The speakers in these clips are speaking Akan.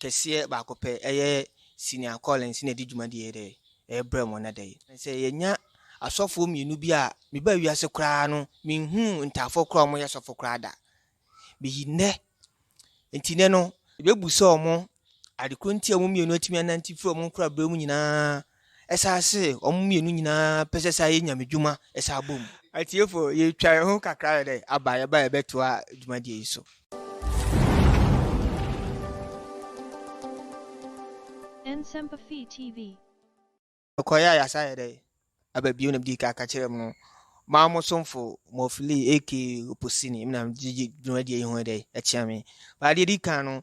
kɛseɛ baako pɛ ɛyɛ senior calling sɛ na ɛdi dwumadie yɛ dɛ ɛbrɛ mu na dɛ sɛ yɛnya asɔfoɔ mmienu bi a meba wiase koraa no menhunu ntaafoɔ koraa wɔn yɛ sɔfo koraa da beyi nnɛ nti nnɛ no yɛbɛbu sɛ wɔn adekoro nti a wɔn mmienu atumi anante firi wɔn nkorabrɛ mu nyinaa Ɛsaa se wɔn mmienu nyinaa pɛ sɛ saa yɛ Nyame dwuma ɛsaa bom. Atiefo yɛtwa yɛn ho kakra yɛdɛ aba yɛba yɛbɛtoa dwumadie yi so. Nsɛmpa Fii TV. Yɛkɔeɛ a yɛasan ayɛ dɛ aba bio na medii ka ka kyerɛɛ mo maa mo somfo Mof Lee aka Oposini me na megye dwumadie yi ho dɛ akyea me. Ba deɛ ɛdi kan no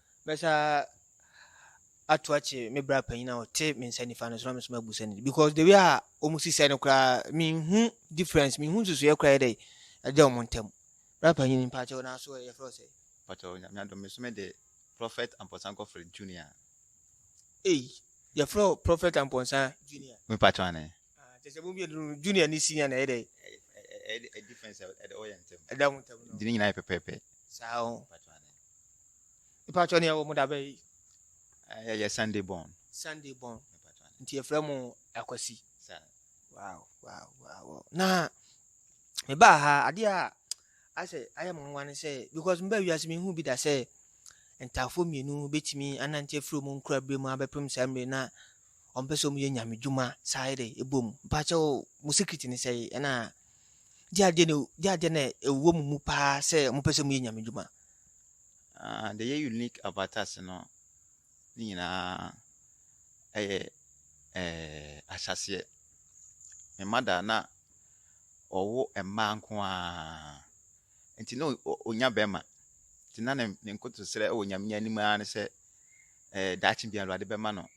Mɛsa ato akye me bra panyin a ɔte me nsa nifa no so na me so mabu sɛ ne because the way a wɔn si sɛ no koraa me nhu difference me nhu nsusuiɛ koraa yɛ dɛ ɛda wɔn ntam bra panyin mpakyɛw na aso yɛfrɛ ɔsɛ. Mpakyɛw nyame adom me so me de prophet ampɔsan kɔfrɛ junior. Ei yɛfrɛ prophet ampɔnsa junior. Me pakyɛw ane. Ah, kyɛ sɛ mu mmienu no junior ne senior na ɛyɛ dɛ. Ɛyɛ difference ɛda ɔyɛ ntɛm. Ɛda ho ntɛm no. Dini nyinaa yɛ pɛpɛɛpɛ. Saa ho. Nipa atwa ne ɛwɔ mo dabɛ yi. Ɛyɛ yɛ Sunday born. Sunday born. Nti yɛfrɛ mo akwasi. Saa. Wow wow wow. Na me baa ha adeɛ a asɛ ayɛ mo nwa ne sɛ because me baa wiase me hu bi da sɛ ntaafoɔ mmienu bɛtumi anante afiri mu nkura bere mu abɛpem saa mmiri na ɔmo pɛ sɛ ɔmo yɛ nyame dwuma saa yɛ dɛ ɛbɔ mu mpakyɛw mo secret ne sɛn ɛna de adeɛ na de adeɛ na ɛwɔ mo mu paa sɛ ɔmo pɛ sɛ ɔmo yɛ nyame dwuma. Ah, the yɛ unique avatars no ne nyinaa ɛyɛ ɛɛ ahyɛseɛ me mada na ɔwo mmaa nko ara nti na ɔnya bɛrima nti na ne ne nkotosrɛ wɔ nyame anim ara ne sɛ ɛɛ daakye bi awurade bɛma no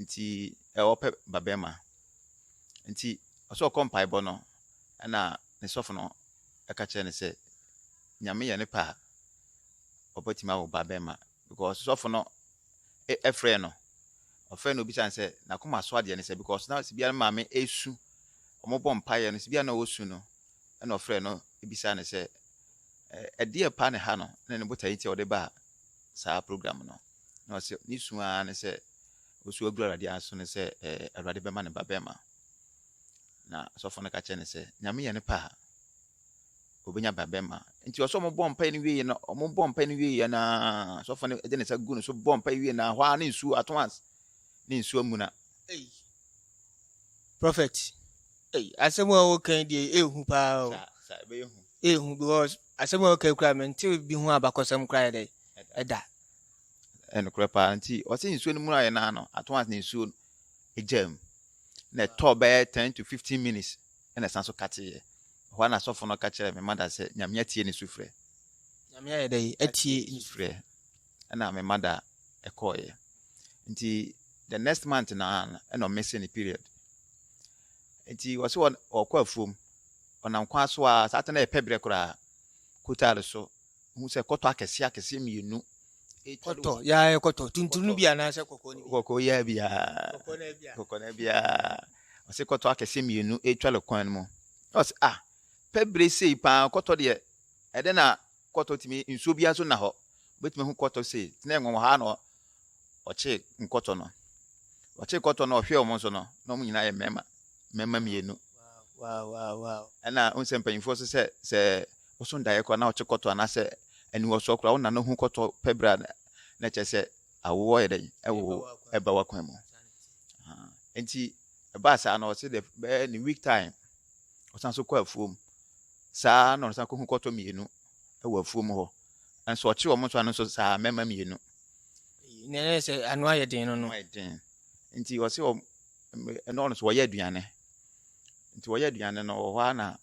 nti ɔpɛ babarima. Nti ɔsɛ ɔkɔ mpaebɔ no ɛna ne sɔfo no ɛka kyerɛ no sɛ nyame yɛ ne pɛ a ɔbɛtumi awo babarima because sɔfo no ɛfrɛ no ɔfrɛ no obisa no sɛ n'akoma so adeɛ ne sɛ because na sibia ne maame ɛsu wɔn bɔ mpaeɛ no sibia na ɔsu no ɛna ɔfrɛ no ebisa no sɛ ɛdeɛ pa ne ha no na ne botae nti a ɔde ba saa program no. Na ɔsɛ ne su ara ne sɛ ɔsu agu Awurade aso ne sɛ ɛɛ Awurade bɛma ne ba bɛrima. Na sɔfo no ka kyerɛ ne sɛ, Nyame yɛ ne pɛ a, ɔbɛnya ba bɛrima. Nti ɔsɛ ɔmo bɔ mpae no wie no, ɔmo bɔ mpae no wie na sɔfo no de ne nsa gu ne so bɔ mpae wie na hɔ ara ne nsuo ato as ne nsuo amuna. Ei, prophet, ei, asɛm a wɔka yi deɛ ɛyɛ hu paa o. Saa saa ɛbɛyɛ hu. Ɛyɛ hu because Asɛm a ɔka yi koraa mente bi ho abakɔsɛm koraa yɛ dɛn? Ɛda. Nokorɛ paa. Nti ɔse nsuo no muraeɛ no ara no, at once na nsuo no gyaa mu. Na ɛtɔɔ bɛyɛ ten to fifteen minutes na ɛsan so kateeɛ. Ɛhɔ ara na sɔfo no ka kyerɛɛ me mother sɛ Nyame atie ne sufrɛ. Nyame ayɛ dɛn atie ne sufrɛ? na me mother kɔeɛ. Nti the next month na ɛna ɔmese ne period. Nti ɔse ɔkɔ afuom, ɔnam kwan so a saa tena ɛpɛ berɛ koraa kotare so hu sɛ kɔtɔ akɛseɛ akɛseɛ mmienu kɔtɔ yaa kɔtɔ tuntun no bi anaasɛ kɔkɔɔ no bi kɔkɔɔ yaa bi aa kɔkɔɔ no bi aa ɔse kɔtɔ akɛseɛ mmienu ɛtwa le kwan no mu ɔse ah pɛ berɛ sei paa kɔtɔ deɛ ɛdɛ na Kɔtɔ tumi nsuo biara nso nna hɔ. Wobɛtumi ahu kɔtɔ sei, te na ɛnwonwa ha na ɔkyee nkɔtɔ no. Ɔkyee kɔtɔ no ɔhwɛɛ wɔn nso no, na wɔn nyinaa yɛ mmarima, mmarima mmienu. Ɛna n sɛ mpanyinfoɔ so sɛ sɛ woso ndaeɛ koraa na ɔkye kɔtɔ anaasɛ aniwɔsoɔ koraa wona no hu kɔtɔ pɛ berɛ a na kyerɛ sɛ awoɔ yɛ dɛn ɛwo ɛba wakwan mu. Nti ɛbaa saa no ɔse dɛ bɛyɛ ne week time Ɔsan nso kɔ afuom. Saa ara na ɔsan kɔhu kɔtɔ mmienu wɔ afuom hɔ. Nso ɔkye wɔn nso ano nso saa ara, mmɛmma mmienu. Na ɛyɛ sɛ ano ayɛ den no no. Ayɛ den. Nti ɔse wɔn, ɛna ɔno nso wɔyɛ aduane. Nti wɔyɛ aduane no, wɔ hɔ ara na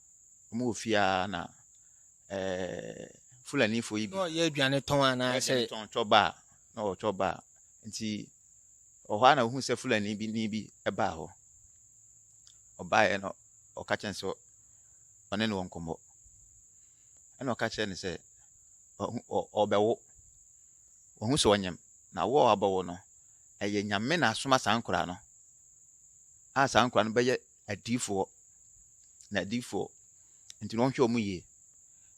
wɔn wɔ fie ara na ɛɛ Fulanifoɔ yi bi. Na ɔyɛ aduane tɔn anaasɛ. Tɔn tɔba a na ɔretɔ ba a, nti wɔ hɔ ara na ɔhuu sɛ Fulani bi ni bi baa hɔ. Ɔbaeɛ no, ɔka kyerɛ no sɛ ɔne no wɔ nkɔmmɔ. Ɛna ɔka kyerɛ no sɛ ɔhu ɔ ɔbɛwo. Ɔhu sɛ ɔnyem. Na wo a wabɛwo no, ɛyɛ Nyame na asoma saa nkwadaa no a saa nkwadaa no bɛyɛ adiyifoɔ na adiyifoɔ nti na ɔnhwɛ wɔn yie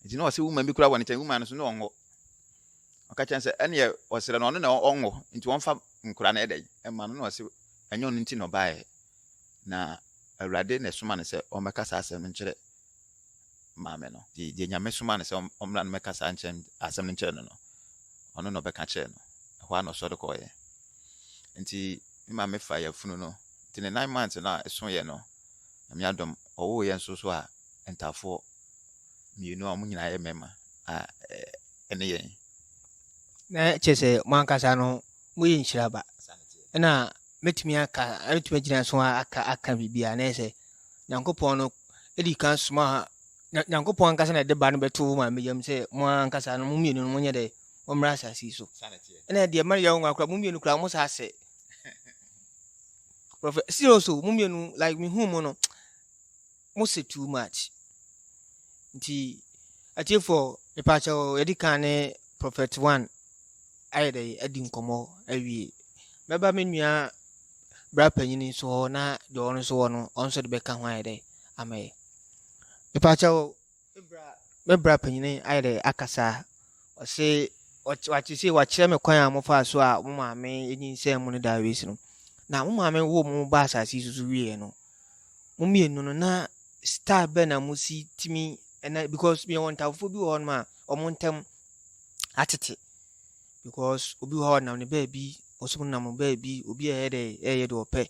nti na ɔsɛ woman bi kura wɔ ne nkyɛn woman no so na ɔnwɔ ɔka kyɛn sɛ ɛneɛ ɔsrɛ no ɔno na ɔnwɔ nti ɔnfa nkura no ɛdɛn ɛma no na ɔsɛ ɛnyɛ ɔno nti na ɔbaeɛ na awurade na ɛsoma no sɛ ɔmmɛka saa asɛm no nkyerɛ maa me no, deɛ Nyame somaa no sɛ ɔmmra no mɛka saa nkyɛn asɛm no nkyerɛ no no, ɔno na ɔbɛka kyerɛ no. Ɛhɔ ara na ɔsɔre kɔɔeɛ. Nti me maame faa yafunu no, nti ne nine months no a ɛsoeɛ no, Nyame adom, ɔwooeɛ nso so a, ntafoɔ mmienu a wɔn nyinaa yɛ mmarima a ɛne yɛn. Na kyerɛ sɛ mo ankasa no moyɛ nhyira ba. Ɛna mɛtumi aka, mɛtumi agyina so aka aka biribi a na yɛ sɛ Nyankopɔn no di kan somaa ha. Na Nyankopɔn ankasa na ɛde ba no bɛtoo wo maame yam sɛ mo ara ankasa no mo mmienu no monyɛ dɛ mommra asase yi so. Ɛna deɛ ɛma no yɛ wo nwa koraa mo mmienu koraa mo saa sɛ prɔfɛ serious o mo mmienu like mehu mo no mo sɛ too much nti atiefoɔ mepaakyɛ o yɛde kan ne prɔfɛt one ayɛ dɛ adi nkɔmmɔ awie mɛba me nua bra panyin nso hɔ na deɛ ɔno nso wɔ no ɔno nso de bɛka ho ayɛ dɛ ama yɛ mepakyɛ o me bra panyin ayɛ dɛ akasa ɔse wate se wakyerɛ me kwan a mofaa so a mo maame nyinsɛn mu no da awesi no na mo maame wo mo ba asase yi soso wieɛ no mo mmienu no na star bɛ na mo si timi ɛna because meyɛ wɔn ntafofo bi wɔ hɔ nom a wɔn ntam atete because obi wɔ hɔ a ɔnam ne baabi ɔsom nam ne baabi obi a ɛyɛ dɛ ɛyɛ deɛ ɔpɛ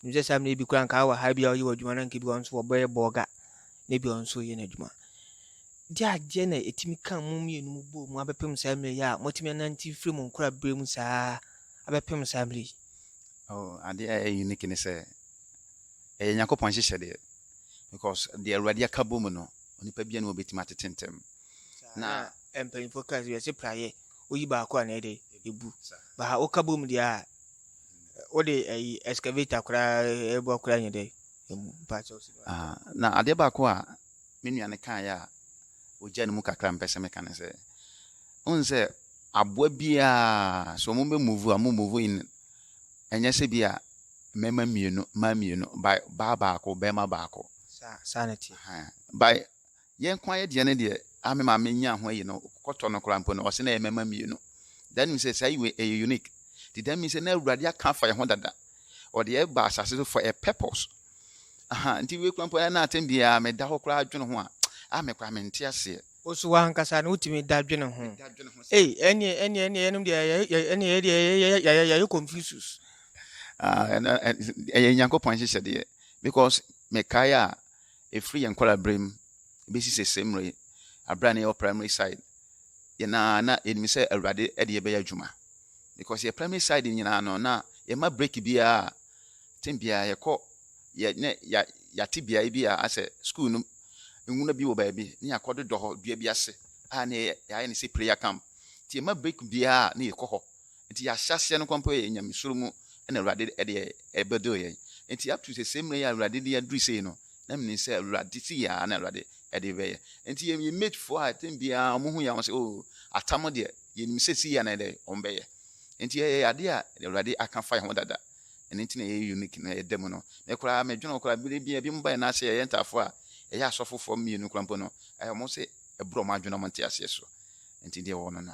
nim sɛ saa mmerɛ bi koraa nka wɔ ha bi a ɔyɛ wɔ adwuma no nka bi ɔnso wɔbɛyɛ bɔɔga na bi ɔnso yɛ n'adwuma de adeɛ na ɛtumi ka mu mmienu mu bɔ mu abɛpem saa mmerɛ yi a moatumi anante mfiri mu nkora berɛ mu saa abɛpem saa mmerɛ yi oh, adeɛ a ɛyɛ unique ne sɛ ɛyɛ nyankopɔn nhyehyɛ deɛ because deɛ awurade aka bɔ mu no onipa bia ne wɔbɛtumi atete ntɛm na Mpanyinfoɔ kaa sɛ wiase praeɛ woyi baako a na ɛde ebu baha woka bom deɛ a wode ɛyi excavator koraa ɛbɔ koraa nyɛ dɛ emu mpakyɛ ɔsi no ah na adeɛ baako a me nua no kaa yɛ a ogya no mu kakra mpɛ sɛ meka ne sɛ ohun sɛ aboa biara so wɔn bɛ move a wɔn move in ɛnyɛ sɛ bi a mmarima mmienu mmaa mmienu by baa baako bɛrima baako saa saa na ti by Yɛn nko ayɛ deɛ no deɛ a me maame nyaa ho ayi no kɔtɔ no koraa mpo no ɔse na ɛyɛ mɛma mmienu that means sɛ saa yiwe ɛyɛ unique ti that means sɛ na awurade aka afa yɛn ho dada ɔde yɛ ba asase so for a purpose aha nti wei koraa mpo ɛna atɛm biara meda hɔ koraa adwene ho a a me koraa mente aseɛ Osu wankasa no wotumi da dwene ho. meda adwene ho sɛ Ei, ɛneɛ ɛneɛ ɛneɛ yɛnom deɛ yɛ- yɛ- yɛ- ɛneɛ yɛdeɛ yɛ- yɛ- yɛ- yɛ- yɛyɛ Confucius. Ah, ɛno- ɛ- ɛyɛ nyankopɔn nhyehyɛdeɛ because mekae a Ɛfiri yɛn nkwadaa mu bɛsi sese mmerɛ yi, aberɛ a na yɛwɔ primary side, yɛn ara na yɛnim sɛ Awurade de yɛbɛyɛ adwuma. Because yɛ primary side nyinaa no, na yɛma break biara, tem biara yɛkɔ, yɛ ne yɛate beaeɛ bi a asɛ school no nwuna bi wɔ baabi, ne yɛakɔ dodɔ hɔ dua bi ase a na yɛayɛ ne sɛ prayer camp. Nti yɛma break biara na yɛkɔ hɔ, Enti yɛn ahyɛaseɛ no kɔ mpo yɛ Nyamesuro mu na Awurade de ɛbɛduru yɛn. Enti up to sɛsɛɛ mmerɛ yi a Awurade de aduru sei no, na menim sɛ Awurade sei ara na Awurade de rebɛyɛ. Enti yɛn yɛn mate foɔ a time biara wɔhu yɛn a wɔn sɛ oh atam deɛ yɛnim sɛ sei ara na ɛdɛ wɔn bɛyɛ. Enti yɛyɛ adeɛ a Awurade aka fa yɛn ho dada. Ɛno nti na yɛyɛ unique na yɛda mu no. Me koraa medwene ho koraa berɛ bi a binom ba yɛn ase yɛyɛ ntaafoɔ a ɛyɛ asɔfofoɔ mmienu koraa mpo no wɔn se ɛborɔ wɔn adwene na wɔn nte aseɛ so. Enti deɛ wɔwɔ no na.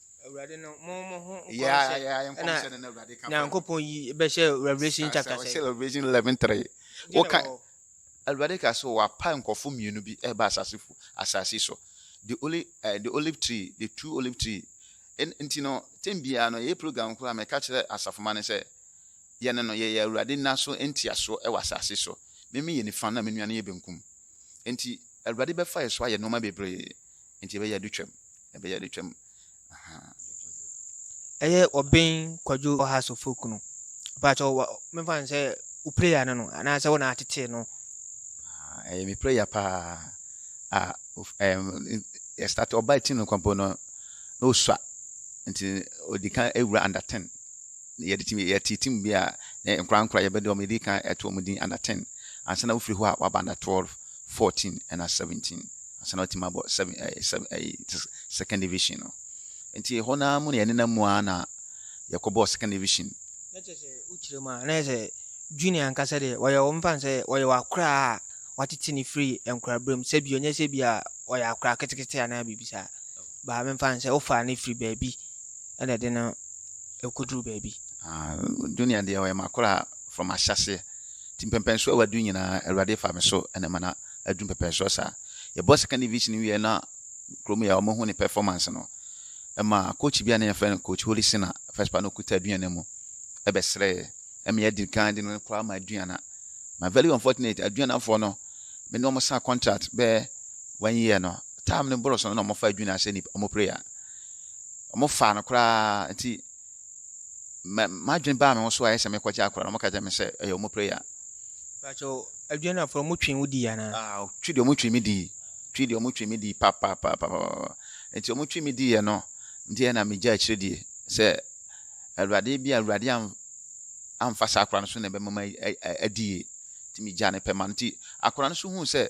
nyankopɔn yi bɛhyɛ revelation chapter sɛ ɔhyɛ revelation 11 3 woka awurade ka sɛ wapa nkɔfo mmienu bi ɛba asase fo asase so the olive uh, the olive tree the two olive tree nti no tɛm biara no yɛ program koraa mɛka kyerɛ asafoma no sɛ yɛne no yɛyɛ awurade nna so ntiaso ɛwɔ asase so meme yɛ nifa na me nua no yɛ benkum nti awurade bɛfa yɛ so ayɛ nneɛma bebree nti ɛbɛyɛ ade twam ɛbɛyɛ ade twam ahaa. ɛyɛ ɔben kwadwo ɔha sofo kunu baakyɛ ɔwa mefa n sɛ wo prayer no no anaasɛ wo na atetee no ah, ɛyɛ me prayer paa a ah, ɛstart ɔba ɛti no kwampo no na ɔsua nti ɔdi kan awura under 10 yɛde tim yɛte tim bi a nkora nkora yɛbɛde ɔmo yɛde kan ɛto ɔmo din under 10 ansa na wofiri hɔ a waba under 12 fourteen ɛna seventeen ansa na watumi abɔ seven ɛɛ eh, seven ɛɛ eh, second division no nti ɛhɔ naa mu na yɛnenam mu ara na yɛkɔbɔɔ second division. na kyerɛ sɛ wokyerɛ mu a na yɛ sɛ junior ankasa deɛ wɔyɛ wɔn mfa sɛ wɔyɛ wakora a watete ne firi nkoraberɛm sɛ bi ɔnyɛ sɛ bi a ɔyɛ akora ketekete anaa biribi saa baa memfa sɛ wofaa ne firi baabi ɛna ɛde no ɛkɔduru baabi ah, junior deɛ ɔyɛ makora from ahyɛseɛ Nti mpɛmpɛnsoɔ a w'adu nyinaa awurade fa me so na ɛma no adu mpɛmpɛnsoɔ saa. Yɛbɔɔ second division wieɛ na kurom yɛ a wɔhu ne performance no ɛma coach bi a na yɛfrɛ no coach Holy Sina first part na ɔkuta aduana mu ɛbɛsrɛɛ ɛma yɛdi kan de no koraa ma aduana ma very unfortunate aduanafoɔ no me ne wɔn saa contract bɛɛ one year no time no boro so no na wɔfa aduana sɛ nipa wɔn prayer wɔn fa no koraa nti mɛ m'adwene baa me ho so ayɛ sɛ mekɔgye akora no, wɔka kyerɛ me sɛ ɛyɛ wɔn prayer. Bàtchɛ adwene no afɔrɔ mu twi wo di anaa? Ah, twi deɛ wɔn twi me di, twi deɛ wɔn twi me di papapapapa. Nti wɔn twi me di yɛ no, nti yɛ na me gya akyire die sɛ awurade bi a awurade am amfa saa akora no so na ɛbɛma ma adi yie. Nti me gya ne pɛ ma nti akora no so hu sɛ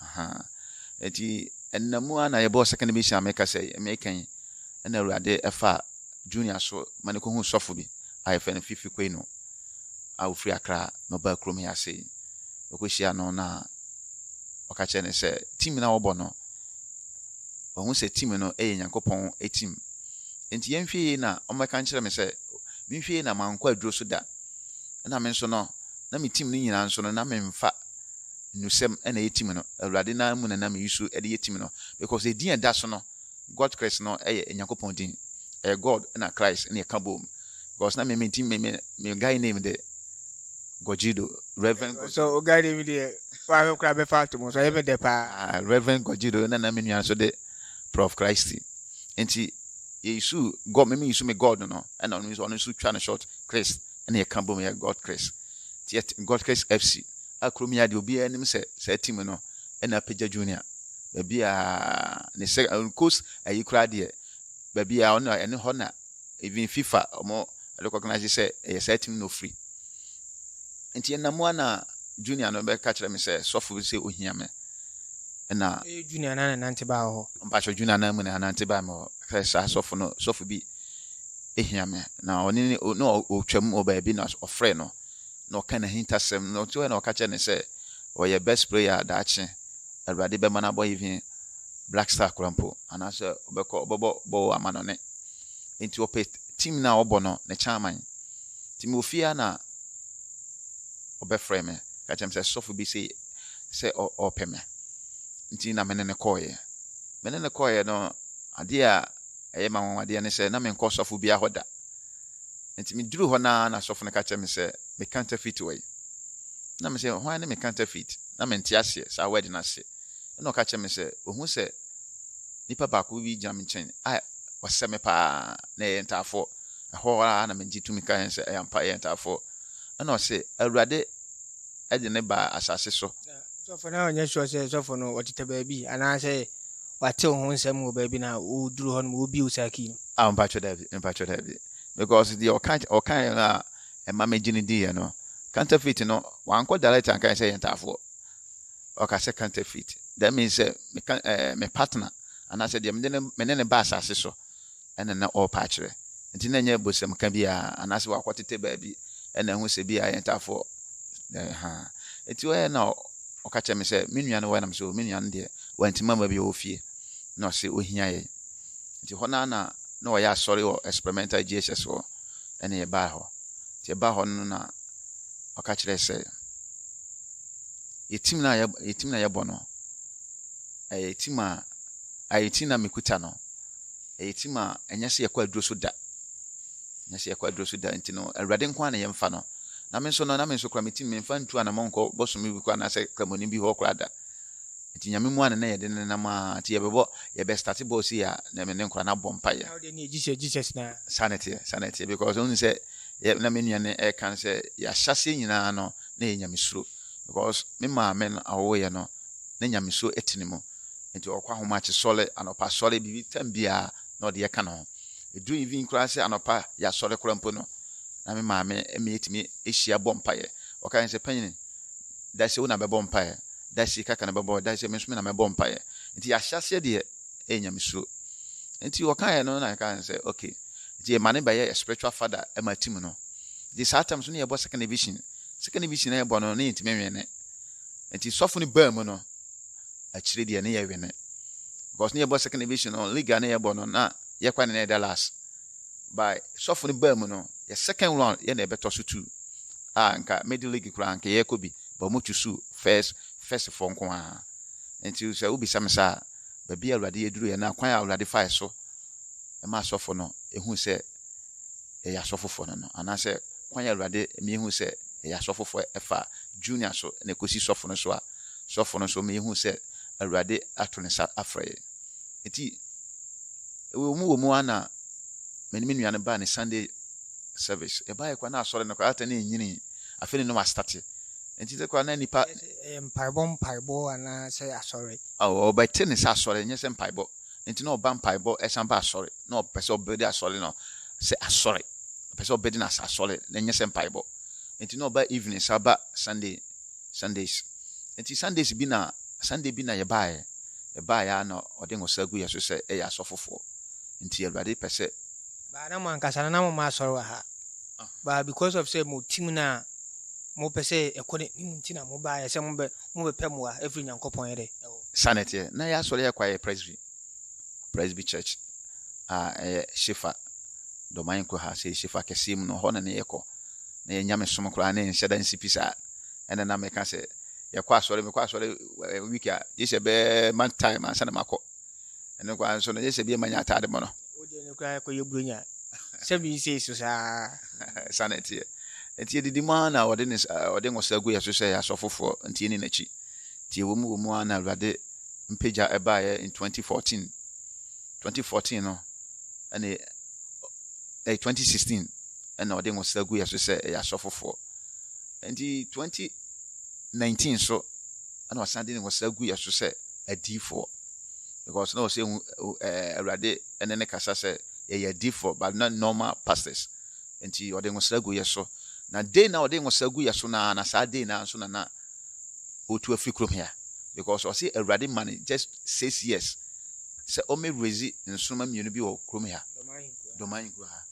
Ahaa. Enti, ɛnna mu ara na yɛbɔɔ second division a meka sɛ meka yi, ɛnna Awurade faa Junior so ma no kɔhuu sɔfo bi a yɛfrɛ no Fifi Kwenu a ɔfiri Accra na ɔbaa kurom ha ase yi. Ɔkɔhyia no na ɔka kyerɛ no sɛ team no a wɔbɔ no, wahu sɛ team no yɛ Nyankopɔn team. Enti yɛnhwɛ yie na ɔmmɛka nkyerɛ me sɛ menhwɛ yie na mankɔ aduro so da. Ɛnna me nso no, na me team no nyinaa nso no, na memfa Nnusɛm na ɛyɛ tim no. Awurade no ara mu na nam yi so de yɛ tim no. Because edin a ɛda so no, Godchrist no yɛ Nyankopɔn din. Ɛyɛ God na Christ na ɛka boom. Because na me me ti me me me guy name de Gogido, Reverend Gogido. So o guy name deɛ wahwɛ koraa bɛfa ato mu so ɛyɛ me dɛ paa. Ah, Reverend Gogido na na me nua nso de Prof Christy. Nti yɛyisu God, me me yisu me God no, ɛna ɔno nso ɔno nso twa no short Christ ɛna yɛka boom yɛ Godchrist. Nti yɛ Godchrist FC. a kurom yi ara deɛ obiara nim sɛ saa team no ɛna apagya junior baabi a ne sɛ coast ayi koraa deɛ baabi a ɔno ɛne hɔ na even fifa wɔn recognize sɛ ɛyɛ saa team no ofiri nti ɛna mu ana junior no bɛka kyerɛ me sɛ sɔfo bi sɛ ohia me ɛna ɛyɛ junior na nante baa hɔ mpakyɛ junior na mu na nante baa me hɔ sɛ saa sɔfo no sɔfo bi ehia me na ɔne ne ɔtwam wɔ baabi na ɔfrɛ no na ɔka n'ahintasɛm no nti hɔ na ɔka kyerɛ no sɛ ɔyɛ best player a daakye Awurade bɛma no abɔ even Black Star koraa mpo anaasɛ ɔbɛkɔ ɔbɛbɔ bɔɔl amanɔne nti ɔpɛ team no a ɔbɔ no ne chairman nti mewɔ fie a na ɔbɛfrɛ me ka kyerɛ me sɛ sɔfo bi se sɛ ɔpɛ me nti na me ne no kɔɔeɛ me ne no kɔɔeɛ no adeɛ a ɛyɛ ma nwanwadeɛ ne sɛ na menkɔ sɔfo biara hɔ da Enti miduruu hɔ no ara na sɔfo no ka kyerɛɛ me sɛ me counterfeit wɔ he? Ɛnna mise, Hwan ne me counterfeit? Ná mente aseɛ saa word no ase. Ɛnna ɔka kyerɛɛ me sɛ, Wahu sɛ nipa baako bi gyina me nkyɛn a wasɛ me pa ara, na yɛyɛ ntaafoɔ. Ɛhɔ ara na megye tumi kaeɛ sɛ, Ɛyɛ ampa, yɛyɛ ntaafoɔ. Ɛnna ɔse, Awurade de no baa asase so. Na sɔfo no anyɛ sure sɛ sɔfo no ɔtetɛ baabi anaasɛ watew ho nsɛm wɔ baabi na oduru hɔ no ma obiw saa key no. Ah, mpakyɛ daabi, mpakyɛ daabi. Because deɛ ɔka ɔkaeɛ no a ɛma megye no diiɛ no, counterfeit no, wankɔ direct ankae sɛ yɛ ntaafoɔ. Ɔka sɛ counterfeit. That means sɛ meka ɛɛ me partner anaasɛ deɛ mede ne me ne ne ba asase so na na ɔrepɛ akyerɛ. Enti na ɛnyɛ bosemka bi a anaasɛ wakɔtete baabi na ahu sɛ bi a ɛyɛ ntaafoɔ ha. Enti ɔyɛɛ na ɔka kyerɛɛ me sɛ, Me nua no wɔ he? Na mese, O me nua no deɛ wantumi amma bi, ɔwɔ fie. Na ɔse, Ɔhia yɛn. Enti hɔ no ara na na wɔyɛ asɔre wɔ Experimental JHS hɔ na yɛbaa hɔ. Enti yɛbaa hɔ no na ɔka kyerɛɛ sɛ, Yɛ tim no a yɛ tim no a yɛbɔ no, ɛyɛ tim a ɛyɛ tim no a mekuta no, ɛyɛ tim a ɛnyɛ sɛ yɛkɔ aduro so da ɛnyɛ sɛ yɛkɔ aduro so da nti no awurade nko ara na yɛmfa no na me nso no na me nso kora me tim memfa ntu anamɔ nkɔ bɔsome bi kɔ anaasɛ kramoni bi hɔ koraa da nti nyame mu a ne na yɛde ne nam a nti yɛbɛbɔ yɛbɛstate bɔɔ sei a na me ne nkora no abɔ mpaeɛ saa ne teɛ saa ne teɛ because ɔhu sɛ na me nua no ɛka no sɛ yɛahyɛseɛ nyinaa no na yɛ nyamesuro because me maame no awowoyɛ no na nyamesuro ɛte ne mu Enti ɔkɔ ahomakyesɔre, anɔpasɔre, biribi tam biara na ɔde yɛ ka ne ho. Ɛduru evening koraa sɛ anɔpa yɛasɔre koraa mpo no, na me maame me yɛtumi hyia bɔ mpaeɛ. Ɔka yɛn sɛ, Panyini, da sei wo na bɛbɔ mpaeɛ, da sei kaka na bɛbɔ, da sei me nso me na mɛbɔ mpaeɛ. Enti yɛahyɛ aseɛ deɛ ɛyɛ nyamesuro. Enti ɔkaeɛ no na yɛka yɛn sɛ, okay, nti yɛma ne bɛyɛ yɛ spiritual father ma team no. Nti saa tam so na yɛbɔ second division. Second division na yɛbɔ no na yɛntumi nwene. Enti sɔfo no baa mu no, akyire deɛ ne yɛ wene because ne yɛ bɔ second division no league a ne yɛ bɔ no na yɛ kwan ne yɛ da last by sɔfo no baa mu no yɛ second round yɛ na ɛbɛtɔ so two a nka medi league koraa nka yɛ kɔ bi but mo chusu first first fo nko a nti sɛ wobisa me saa baabi a awurade yɛduru yɛ na kwan a awurade fae so ɛma asɔfo no ehu sɛ ɛyɛ asɔfofoɔ no no anaasɛ kwan a awurade mmienu sɛ ɛyɛ asɔfofoɔ ɛfa junior so na ɛkɔsi sɔfo no so a sɔfo no so ma yehu sɛ Awurade ato ne nsa afrɛ yɛn. Enti, wɔ mu wɔ mu ara na me ne me nua no baa ne Sunday service. Yɛbaeɛ koraa na asɔre no koraa ata na ɛnyinii. Afei ne na wɔastate. Enti sɛ koraa na nnipa. Ɛyɛ mpaebɔ mpaebɔ anaa sɛ asɔre? Aw, ɔbɛte ne sɛ asɔre, ɛnyɛ sɛ mpaebɔ. Enti na ɔba mpaebɔ san ba asɔre. Na ɔpɛ sɛ ɔbɛdi asɔre no sɛ asɔre. Ɔpɛ sɛ ɔbɛdi no asɛ asɔre na ɛnyɛ sɛ mpaebɔ. Enti na ɔba evening san ba Sunday. Sundays. Enti Sundays bi na, Sunday bi na yɛbaeɛ. Yɛbaeɛ ara na ɔde nwosa gu yɛn so sɛ yɛyɛ asɔfofoɔ. Enti Awurade pɛ sɛ. Baa na mo ankasa no na mo mma asɔre wɔ ha. Baa because of sɛ mo team no a mopɛ sɛ ɛkɔ n'anim nti na mobaeɛ sɛ mobɛ, mobɛpɛ mmoa afiri Nyankopɔn yɛ dɛ ɛhɔ. Saa na ɛteɛ. Na yɛn asɔre yɛ kwaeɛ presbytery. Presby Church a ɛyɛ Shifar, Domain Kuha, sɛ Shifar kɛseɛ mu no, hɔ na ne yɛkɔ. Na yɛ nyamesom koraa ne nhyɛ da nsi pi saa. Ɛna na meka sɛ, yɛkɔ asɔre, mekɔ asɔre eh, week a, gye sɛ bɛɛ month time ansa na makɔ. Ɛno koraa nso no, gye sɛ bi ɛma nya ataade mɔ no. Wodeɛ no koraa ɛkɔyɛ buronya sɛ bi nsɛ so saa. Saa na ɛteɛ. Nti yɛdidi mu ara na ɔde ne s- eh, ɔde nwosa gu yɛ so sɛ yɛ asɔfofoɔ, nti yɛni n'akyi. Nti ɛwɔ mu wɔ mu ara na Awurade mpagya ɛbaeɛ in 2014 2014 no ɛne ɛyɛ 2016 ɛna ɔde nwosra gu yɛ so sɛ ɛyɛ asɔfofoɔ nti 2019 so ɛna ɔsan de nwosra gu yɛ so sɛ adiifoɔ because na ɔsɛ ɛɛ awurade ɛne ne kasa sɛ yɛyɛ adiifoɔ but not normal pastors nti ɔde nwosra gu yɛ so na day na ɔde nwosra gu yɛ so na na saa day na nso na na otu afiri kurom hea because ɔse awurade ma no just six years sɛ ɔmɛ raise nsoroma mmienu bi wɔ kurom ha doma ahenkuro ha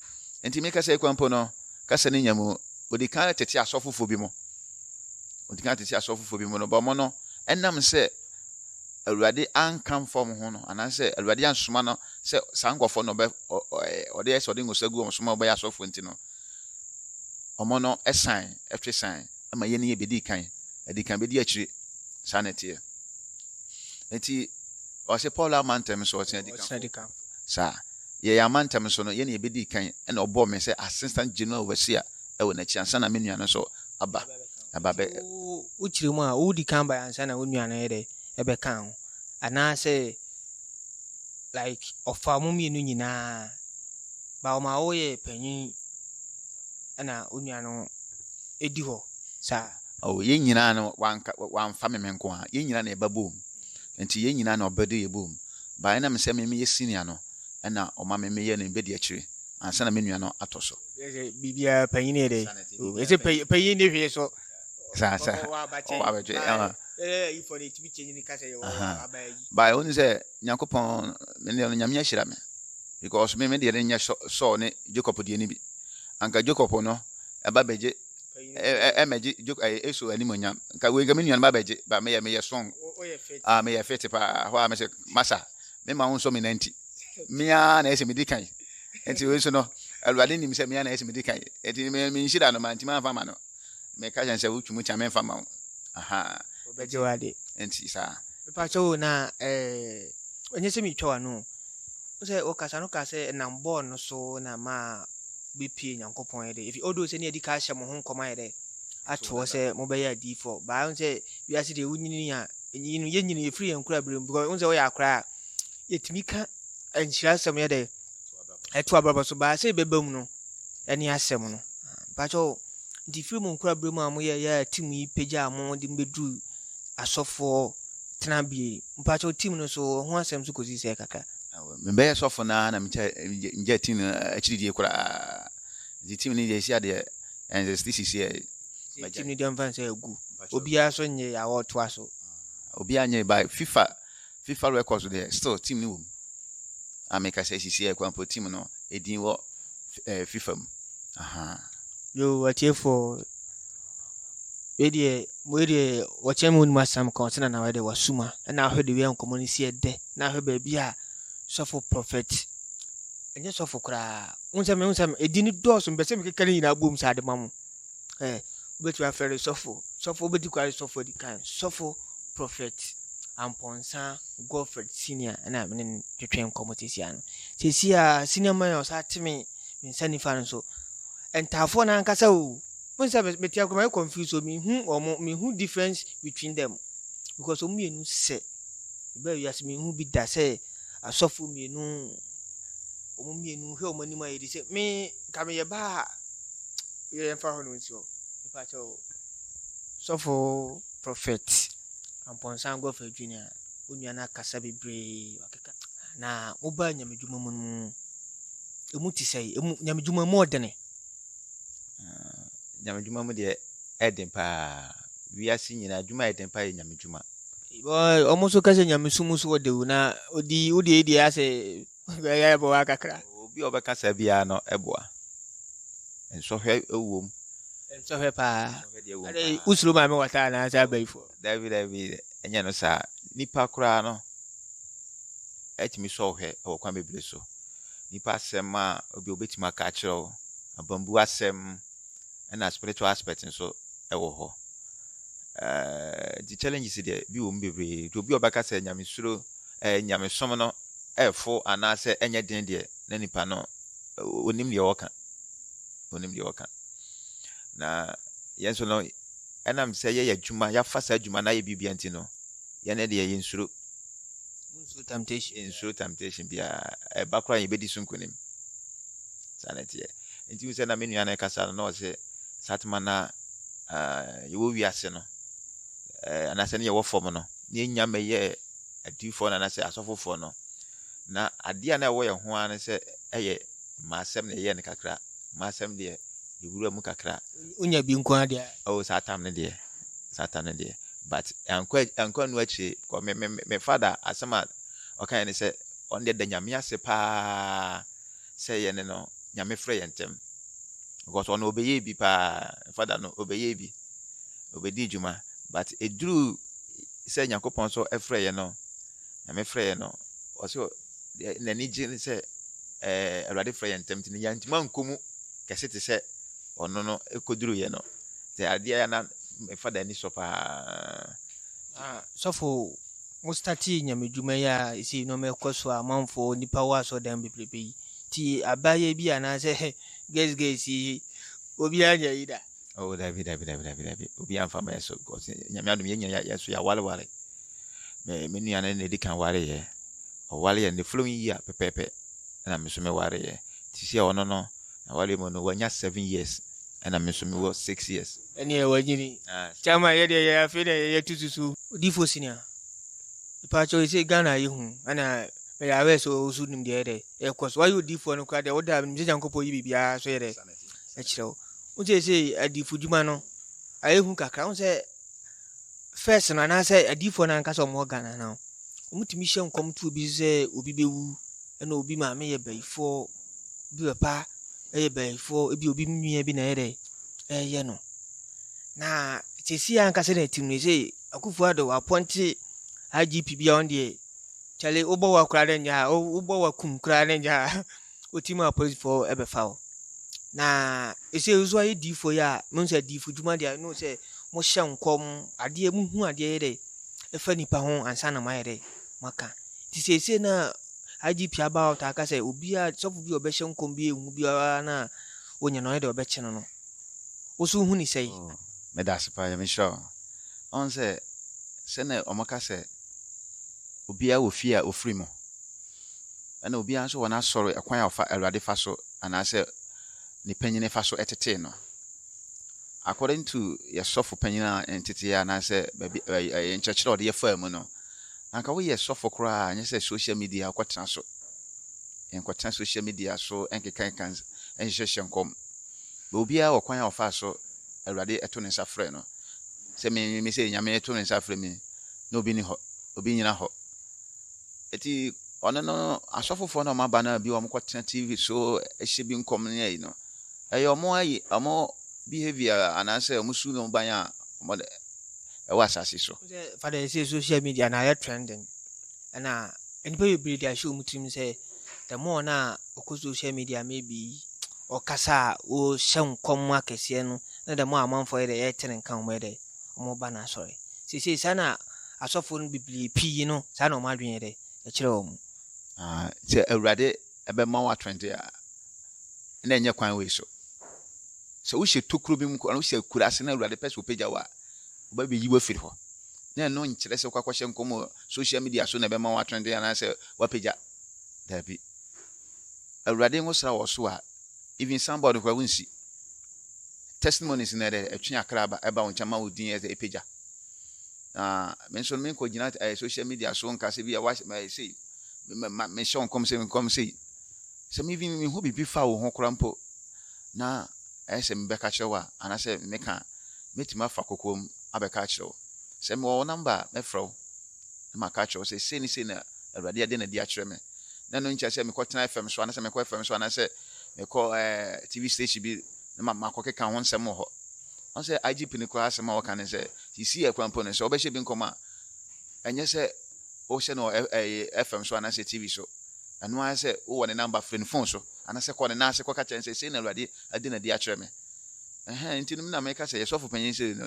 nti mi kasa ekwan po no kasa ne nya mu odi kan tete asɔfofoɔ bi mu odi kan tete asɔfofoɔ bi mu no bɔmɔ no ɛnam sɛ awurade anka mfa wɔn ho no anaasɛ awurade ansoma no sɛ saa nkɔfoɔ no ɔbɛ ɔde ɛsɛ ɔde ngosa gu wɔn so ma ɔbɛyɛ asɔfoɔ nti no wɔn no ɛsan ɛtwe san ma yɛn ani bedi kan, adi kan bedi akyire. Saa na ɛteɛ. Enti ɔse Paulo ama ntɛm so, ɔtena di kanfo. Saa. Yɛ yɛn ama ntɛm so no, yɛn na yɛbedi kan, ɛna ɔbɔɔ me sɛ assistant general overseer ɛwɔ n'akyi ansa na me nua no nso aba. Aba bɛ. Wo kyerɛ mu a, wo di kan ba ansa na wo nua no yɛ dɛ ɛbɛka ho, anaa sɛ like ɔfa mo mmienu nyinaa ba ɔma wo yɛ panyin ɛna wo nua no. ɛdi hɔ saa. Oh, yɛn nyinaa no, wanka, wamfa me me nko ara. Yɛn nyinaa na yɛba boom. Nti yɛn nyinaa na ɔbɛde yɛ boom. But ɛna me sɛ me meyɛ senior no, ɛna ɔma me meyɛ no bɛdi akyire ansa na me nua no atɔ so. Biribiara panyin yɛ dɛ. Ɛsɛ panyin panyin ne hwee so. Saa saa. Ɔwɔ abakyɛ. Ɔwɔ abakyɛ. Ɛɛ ifɔ ne timi kyɛnyin kasa yɛ ɔwɔ abayi. Ba ɛwɔ ne sɛ. Nyankopɔn me deɛ no Nyame ahyira me because me me deɛ no nyɛ Saul ne Jacob deɛ no bi anka Jacob no ɛba bɛgye ɛmɛgye ɛyɛ Esau animonyam nka wei nka me nua no ba bɛgye ba meyɛ meyɛ song a meyɛ fete paa hɔ a mesɛ masa me ma wo nsɔ me nanti mea na ɛsɛ medi kan nti wei nso no awurade nim sɛ mea na ɛsɛ medi kan nti menhyira no mantim amfa ma no Meka kyerɛ no sɛ, Wotwi mu kyi a, memfa mma wo. Ahaa. Wɔbɛgye wo ade. Enti saa. Mepakyɛw o, na eh, ɛnyɛ sɛ meretwa w'ano o. Wo sɛ ɔkasa no kaa sɛ ɛnam bɔɔl no so na maa wobɛpie Nyankopɔn yɛ dɛ. Efi although sɛ ne yɛadi ka ahyɛ mo ho nkɔm ayɛ dɛ ato hɔ sɛ mobɛyɛ adiyifoɔ. Baa wo sɛ wiase deɛ wonyini a, ɛnyini no, yɛnyini, ɛfiri yɛn nkorabere mu. Because wo sɛ woyɛ akora a, yɛtumi ka nhyira asɛm yɛ dɛ. ɛto abrabɔ so baa sɛ ɛbɛba mu no ɛne asɛm no mpakyɛw nti firi mu nkora berɛ mu a moyɛ yɛ a tim yi pagya a mo de mbɛduru asɔfoɔ tenabea mpakyɛw tim no so ho asɛm so kɔsi sɛ kakra mebɛyɛ sɔfo no a na megya tim no akyiridie koraa nti tim no deɛ ɛsi adeɛ ɛnsɛ sɛ sisi ɛ tim no deɛ mfa nsɛ agu obiara so nyɛ yɛ a wɔtoa so obiara nyɛ ba fifa Fifa record so deɛ still team no wɔ mu. A meka sɛ sisi yɛ kwampo team no edin wɔ eh, Fifa mu. Ahaa. Yo, atiefoɔ, wei deɛ, wei deɛ, wɔkyɛn mu nim asɛm ka ɔsɛ na na wɔde wasuma na ahwɛ de wia nkɔmmɔ no si ɛdɛ na ahwɛ baabi a sɔfo prɔfɛt ɛnyɛ sɔfo koraa wo nsɛm wo nsɛm ɛdi ne dɔɔso mpɛ sɛ mekeka ne nyinaa bom saa de ma mo ɛ, wobɛtumi afrɛ no sɔfo. Sɔfo wobɛdi kwa ne sɔfo adi kan. Sɔfo Prɔfɛt Ampɔnsa Godfred Senior ɛna mene no twetwe nkɔmmɔ sesia no. Sesia Senior Man ɔsa teme me nsa nifa no so. Ntaafoɔ no ankasa o. Mo nsɛ mete akora mayɛ confused o. Mehu ɔmo, mehu difference between them. Because ɔmo mmienu sɛ. Ɛbɛ wiase mehu bi da sɛ asɔfo mmienu ɔmo mmienu hwɛ ɔmo anim ayɛ di sɛ me nka meyɛ baa a yɛ yɛmfa hɔ no nsi hɔ mepakyɛ o sɔfo prophet ampɔnsan gɔfa adwini a wo nua no akasa bebree wakeka na wobaa nyamedwuma mu no ɛmu te sɛ ɛmu nyamedwuma mu ɔdene ah, nyamedwuma mu deɛ ɛden paa wiase nyinaa adwuma a ɛden paa yɛ nyamedwuma wɔn nso ka sɛ nyamesom so wɔde wo na odi wode deɛ asɛ Ɔbɛyɛ aboa kakra. Obi a ɔbɛka saa biara no boa. Nsɔhwɛ wom. Nsɔhwɛ paa. Ade usuro maame wata anaasɛ abayifoɔ. Dabi dabi ɛnyɛ no saa. Nipa koraa no ɛtumi sɔ ɔhwɛ wɔ kwan bebree so. Nipa asɛm a obi obetumi aka akyerɛ wo, abambu asɛm ɛna spiritual aspect nso ɛwɔ hɔ. Ɛɛ di challenges deɛ bi wɔ mu bebree. Obi a ɔbɛka sɛ nyamesuro. ɛɛ nyamesom no fo anaasɛ ɛnyɛ den deɛ, na nipa no onim deɛ ɔka. Onim deɛ ɔka. Na yɛn nso no, ɛnam sɛ yɛyɛ adwuma, yɛafa saa adwuma na ayɛ biribia nti no, yɛne deɛ yɛnsuro. Nsuro temptation. Nsuro temptation biara. Ɛba koraa yɛbɛdi so nkonim. Saa na ɛteɛ. Nti wo sɛ na me nua no ɛkasa no na ɔsɛ saa tema na yɛwɔ wiase no anaasɛ ne yɛwɔ fam no yɛnnya mmɛyɛ adiyifoɔ no anaasɛ asɔfofoɔ no. Na adeɛ a na ɛwɔ yɛn ho ara ne sɛ ɛyɛ mmaasɛm na yɛyɛ no kakra. Mmaasɛm deɛ yɛwura mu kakra. wonya bi nko ara deɛ. Oh, saa tam no deɛ. Saa tam no deɛ. But ɛnkɔ ɛnkɔ ɛno akyire. Because me me me me father asɛm a ɔka yɛn ne sɛ ɔno deɛ da nyame ase paa sɛ yɛne no nyame frɛ yɛn ntɛm. Because ɔno ɔbɛyɛɛ bi paa. Father no ɔbɛyɛɛ bi. Obedii dwuma, but eduruu sɛ Nyankopɔn nso frɛeɛ no, Nyame frɛeɛ no, ɔse deɛ n'ani gye ne sɛ ɛɛ Awurade frɛ yɛn ntɛm nti no yɛantumi ankɔ mu kɛse te sɛ ɔno no kɔduruiɛ no. Nti adeɛ a na me fada ani sɔ paa. Ah, sɔfo, mo startee nyamedwuma yi a ɛsei nneɛma ɛkɔ so a amanfoɔ nipa wɔ asɔrdan bebrebe yi. Nti abaayɛ bi anaasɛ guys guys yi, obiara nyɛ yi da. Oh dabi dabi dabi dabi dabi obi anfa mɛ so kɔsi nyame adum yɛ nyina yɛ so yɛ awale wale mɛ me nua no na edi kan wale yɛ ɔwale yɛ ne following year pɛpɛɛpɛ ɛna me nso mɛ wale yɛ te sɛ ɔno no na wale mu no wanya seven years ɛna me nso mewɔ six years. ɛne ɛwɔ agyini kyɛma yɛ deɛ yɛ afei deɛ yɛyɛ tu susu odifo sinia ipaakyɛ ɔyɛ sɛ ghana yɛ hu ɛna mɛyɛ awɛ sɛ ɔsu nim deɛ yɛ dɛ ɛkɔ so wayɛ odifoɔ no koraa deɛ woda nim sɛ nyankopɔn yi biribiara so yɛ dɛ ɛkyerɛ wo Wo seesei adifodwuma no ayɛ hu kakra. Wo sɛ first no anaasɛ adiifoɔ no ankasa wɔn Ghana no wɔtumi hyɛ nkɔm to obi sɛ obi bɛwu ɛna obi maame yɛ bayifoɔ obi papa ɛyɛ bayifoɔ ebi obi nua bi na ɛyɛ dɛ ɛyɛ no na sɛsi ankasa na ɛtim no sɛ akufo ado apɔnte IGP bi a ɔn deɛ kyale wobɔ wa koraa ne nya wobɔ wa kum koraa ne nya Wotim a polisifo bɛfa wo. Na ɛsɛ nso ayɛ diifo yi a mo sɛ diifo dwuma deɛ no sɛ mo hyɛ nkɔm adeɛ mo hu adeɛ yɛ dɛ ɛfa nipa ho ansa na mo ayɛ dɛ mo aka ti sɛ ɛsɛ na IGP aba out aka sɛ obi a sɔfo bi ɔbɛhyɛ nkɔm bi ehu biara na wɔnyɛ no ayɛ dɛ ɔbɛkye no no woso hu ne sɛ yi. Meda ase paa yɛ me hyira wɔn. Ɔn sɛ sɛ na wɔn ka sɛ obiara wɔ fie a ofiri mu. ɛna obiara nso wɔ n'asɔre ɛkwan a ɔfa Awurade fa so anaasɛ ne panyin fa so tetee no. According to yɛ sɔfo panyin a nteteɛ anaasɛ baabi ɛyɛ nkyerɛkyerɛ a ɔde yɛ faa mu no, anka woyɛ sɔfo koraa a nyɛ sɛ social media wokɔtena so. Nkɔtena social media so nkekanka nhyehyɛ nkɔm. Bɛ obiara wɔ kwan a ɔfa so Awurade ɛto ne nsa frɛ no. Sɛ me me sɛ Nyame ɛto ne nsa frɛ me na obi ni hɔ, obi nyina hɔ. Eti ɔno no asɔfo foɔ na ɔmo aba na bi ɔmo kɔ tena TV so ɛhyɛ bi nkɔm ne ayi no ɛyɛ ɔmo ayi ɔmo behavior anaasɛ ɔmo su no ban a ɔmo de ɛwɔ asase so. Sɛ fa dɛ sɛ social media na ayɛ trending ɛna nnipa bebree de ahyɛ ɔmo tirim sɛ the more na ɔkɔ social media maybe ɔkasa a ɔhyɛ nkɔm akɛseɛ no na the more amanfoɔ yɛ dɛ ɛtene nka ɔmo yɛ dɛ wɔba n'asɔre. Seesei saa na asɔfoɔ no bebree pii no, saa na wɔn adwene yɛ dɛ, ɛkyerɛ wɔn. Ah, sɛ Awurade bɛma wo atorɔnte a, na ɛnyɛ kwan wei so. Sɛ wohyɛ tokuro bi mu koraa, na wohyɛ akuraase na Awurade pɛ sɛ ɔpagya wo a, ɔbɛbɛyi wo afiri hɔ. Na ɛno nkyerɛ sɛ wokɔ akɔhyɛ nkɔm wɔ social media so na ɛbɛma wo atorɔnte anaasɛ wapagya. Daabi. Awurade nwosra wɔ so a, Even somebody koraa wonsi. Testimonies no ɛdɛ ɛtwe akra ba ɛba wo nkyɛn ma wo din ɛdɛ ɛpagya. Na me nso me nkɔ gyina ɛyɛ social media so nka sɛ bi a wahyɛ mɛ sei mɛ ma me hyɛ nkɔm sɛ nkɔm sei. Sɛ me even me ho biribi fa wo ho koraa mpo na ɛyɛ sɛ mebɛka kyerɛ wo a anaasɛ meka a mɛtumi afa kokoam abɛka akyerɛ wo. Sɛ mewɔ wo number a mɛfrɛ wo. na maka akyerɛ wo sɛ, 'Sei ne sei na Awurade ade no adi akyerɛ me. Na ɛno nkyerɛ sɛ mekɔtena FM so anaasɛ mekɔ FM so anaasɛ mekɔ TV station bi na makɔkeka ho nsɛm wɔ hɔ. Ɔn sɛ IGP no koraa asɛm a ɔka ne sɛ, sisii akura mpo no, sɛ wobɛhyɛ bi nkɔm a, ɛnyɛ sɛ wohyɛ no wɔ FM so anaasɛ TV so. Ɛno ara sɛ wowɔ ne namba, frɛ ne fon so anaasɛ kɔ ne nan ase kɔka kyerɛ no sɛ, 'Sei na Awurade ade no adi akyerɛ me. Ɛhɛn, nti no me na meka sɛ yɛ sɔfo panyin sɛ no.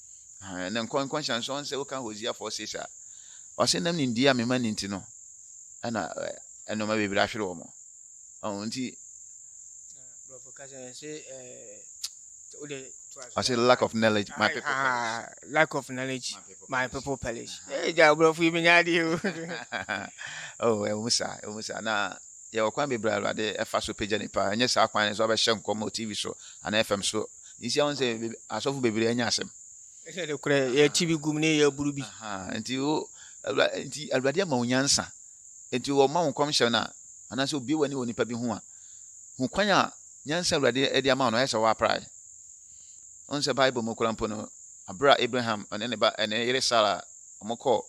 Ɛhɛn, na nkɔ nkɔnhyɛ nso ɔnnsɛ wo kan Hosea four six a, ɔsɛ nam nimdie a mema ne nti no, ɛna ɛnoma bebree ahwere wɔn. Ɔn nti. Brɔfo kasa yɛ se ɛɛ, o de ɔsɛ lack of knowledge my people perish. Lack of knowledge my people perish. Ee gya brɔfo yi mi nya adeɛ o. Oh, ɛwɔ mu saa, ɛwɔ mu saa na yɛwɔ kwan bebree a Awurade ɛfa so pagya nipa. Ɛnyɛ saa kwan no so abɛhyɛ nkɔm wɔ TV so anaa FM so nhyia ho sɛ asɔfo bebree anya asɛm. Ɛsɛ de korɛ yɛte bi gum ne yɛaburu bi. Nti o nti Awurade ama wo nyansa. Nti wɔma wo nkɔmhyɛ no a anaasɛ obie w'ani wɔ nipa bi ho a, hu kwan a nyansa Awurade de ama wo no ayɛ sɛ woaprae. Wohu sɛ Bible mu koraa mpo no, bere a Abraham ne ne ba ne yere Sara wɔkɔɔ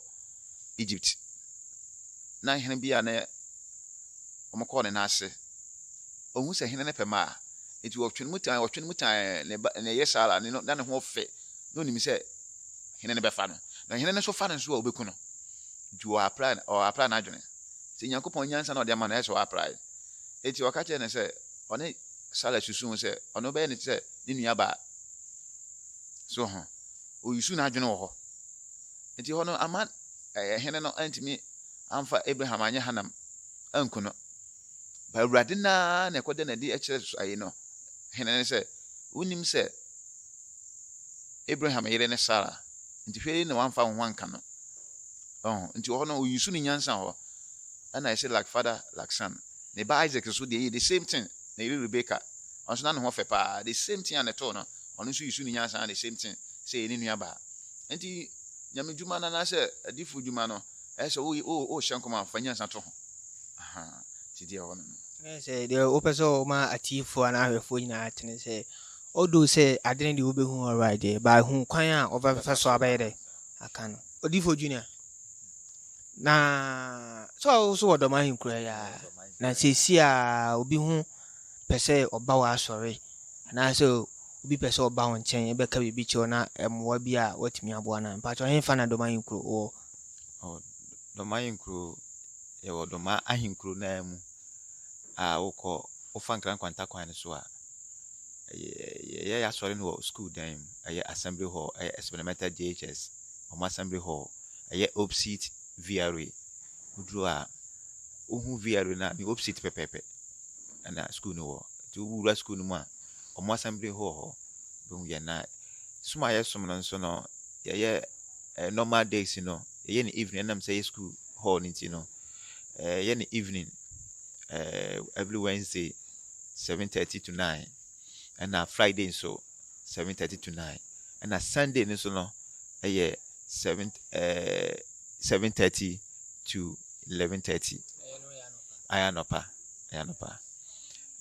Egypt, na hene bi a na wɔkɔɔ ne nan ase ɔhu sɛ hene no pɛ ma a, enti ɔtwe ne mu tan, ɔtwe ne mu tan, na ɛba, na ɛyɛ saa ara, ne no, na ne ho fɛ, na onim sɛ hene no bɛfa no, na hene no nso fa no nso a, obeku no. Nti ɔapra, ɔapra n'adwene. Sɛ Nyankopɔn nyansa na ɔde ama no, ɛyɛ sɛ ɔaprae. Enti ɔka kyerɛɛ no sɛ, ɔne Sara susuu sɛ, ɔno bɛyɛ ne sɛ ne nua baa. So ho, oyusu n'adwene wɔ hɔ. Enti hɔ no, ama ɛɛ hene no antumi amfa Abraham anyɛ hanam anku no. Ba Awurade no ara na ɛkɔda no adi kyerɛ ayi no, hene no sɛ, Wonnim sɛ Abraham yere ne Sara, nti hwɛ yei na wamfa wo ho anka no. Ɔho, nti wɔ hɔ no, oyi so ne nyansa hɔ. Ɛna ɛsɛ like father, like son. Ne ba Isaac nso deɛ yɛ the same thing, na yere Rebecca, ɔno nso na ne ho fɛ paa, the same thing a na ɛtoo no, ɔno nso yi so ne nyansa the same thing, sɛ yɛ ne nua baa. Nti, nyamedwuma no anaasɛ adifo dwuma no, Ɛyɛ sɛ wo wo worehyɛ nkɔm a fa nyansa to ho. Ahaa nti deɛ ɛwɔ no no. Ɛyɛ sɛ deɛ wopɛ sɛ ɔma atiefoɔ anaa ahwɛfoɔ nyinaa te ne sɛ although sɛ ade no deɛ wobɛhu alright deɛ but hu kwan a wɔbɛfa so abɛyɛ dɛ aka no. Odiyifoɔ Junior na sɛ wo so wɔ dɔm ahenkura yi a na seesie a obi ho pɛ sɛ ɔba wɔ asɔre anaasɛ obi pɛ sɛ ɔba wo nkyɛn bɛka biribi kyerɛ wo na mmoa bi a watumi aboa no a mpakyɛ ɔhenfa na dɔm ahenkuro wɔ Ɔwɔ Dɔm ahenkuro, yɛwɔ Dɔm ahenkuro no ara mu a wokɔ, wofa Nkran kwanta kwan no so a, yɛyɛ yɛn asɔre no wɔ sukuu dan mu. Ɛyɛ assembly hall, ɛyɛ experimental JHS, wɔn assembly hall. Ɛyɛ opsit VRA. Woduru hɔ a, wohu VRA no a, ne opsit pɛpɛɛpɛ na sukuu no wɔ. Nti wowura sukuu no mu a, wɔn assembly hall hɔ, wobɛhu yɛn. Na som a yɛsom no nso no, yɛyɛ . eh, normal days no yɛyɛ no evening ɛnam sɛ yɛ school hall no nti no eh, yɛ no evening eh, every wednesday seven thirty to nine ɛna friday nso seven thirty to nine ɛna sunday no nso no ɛyɛ seven eh, seven thirty to eleven thirty ayɛ anɔpa ayɛ anɔpa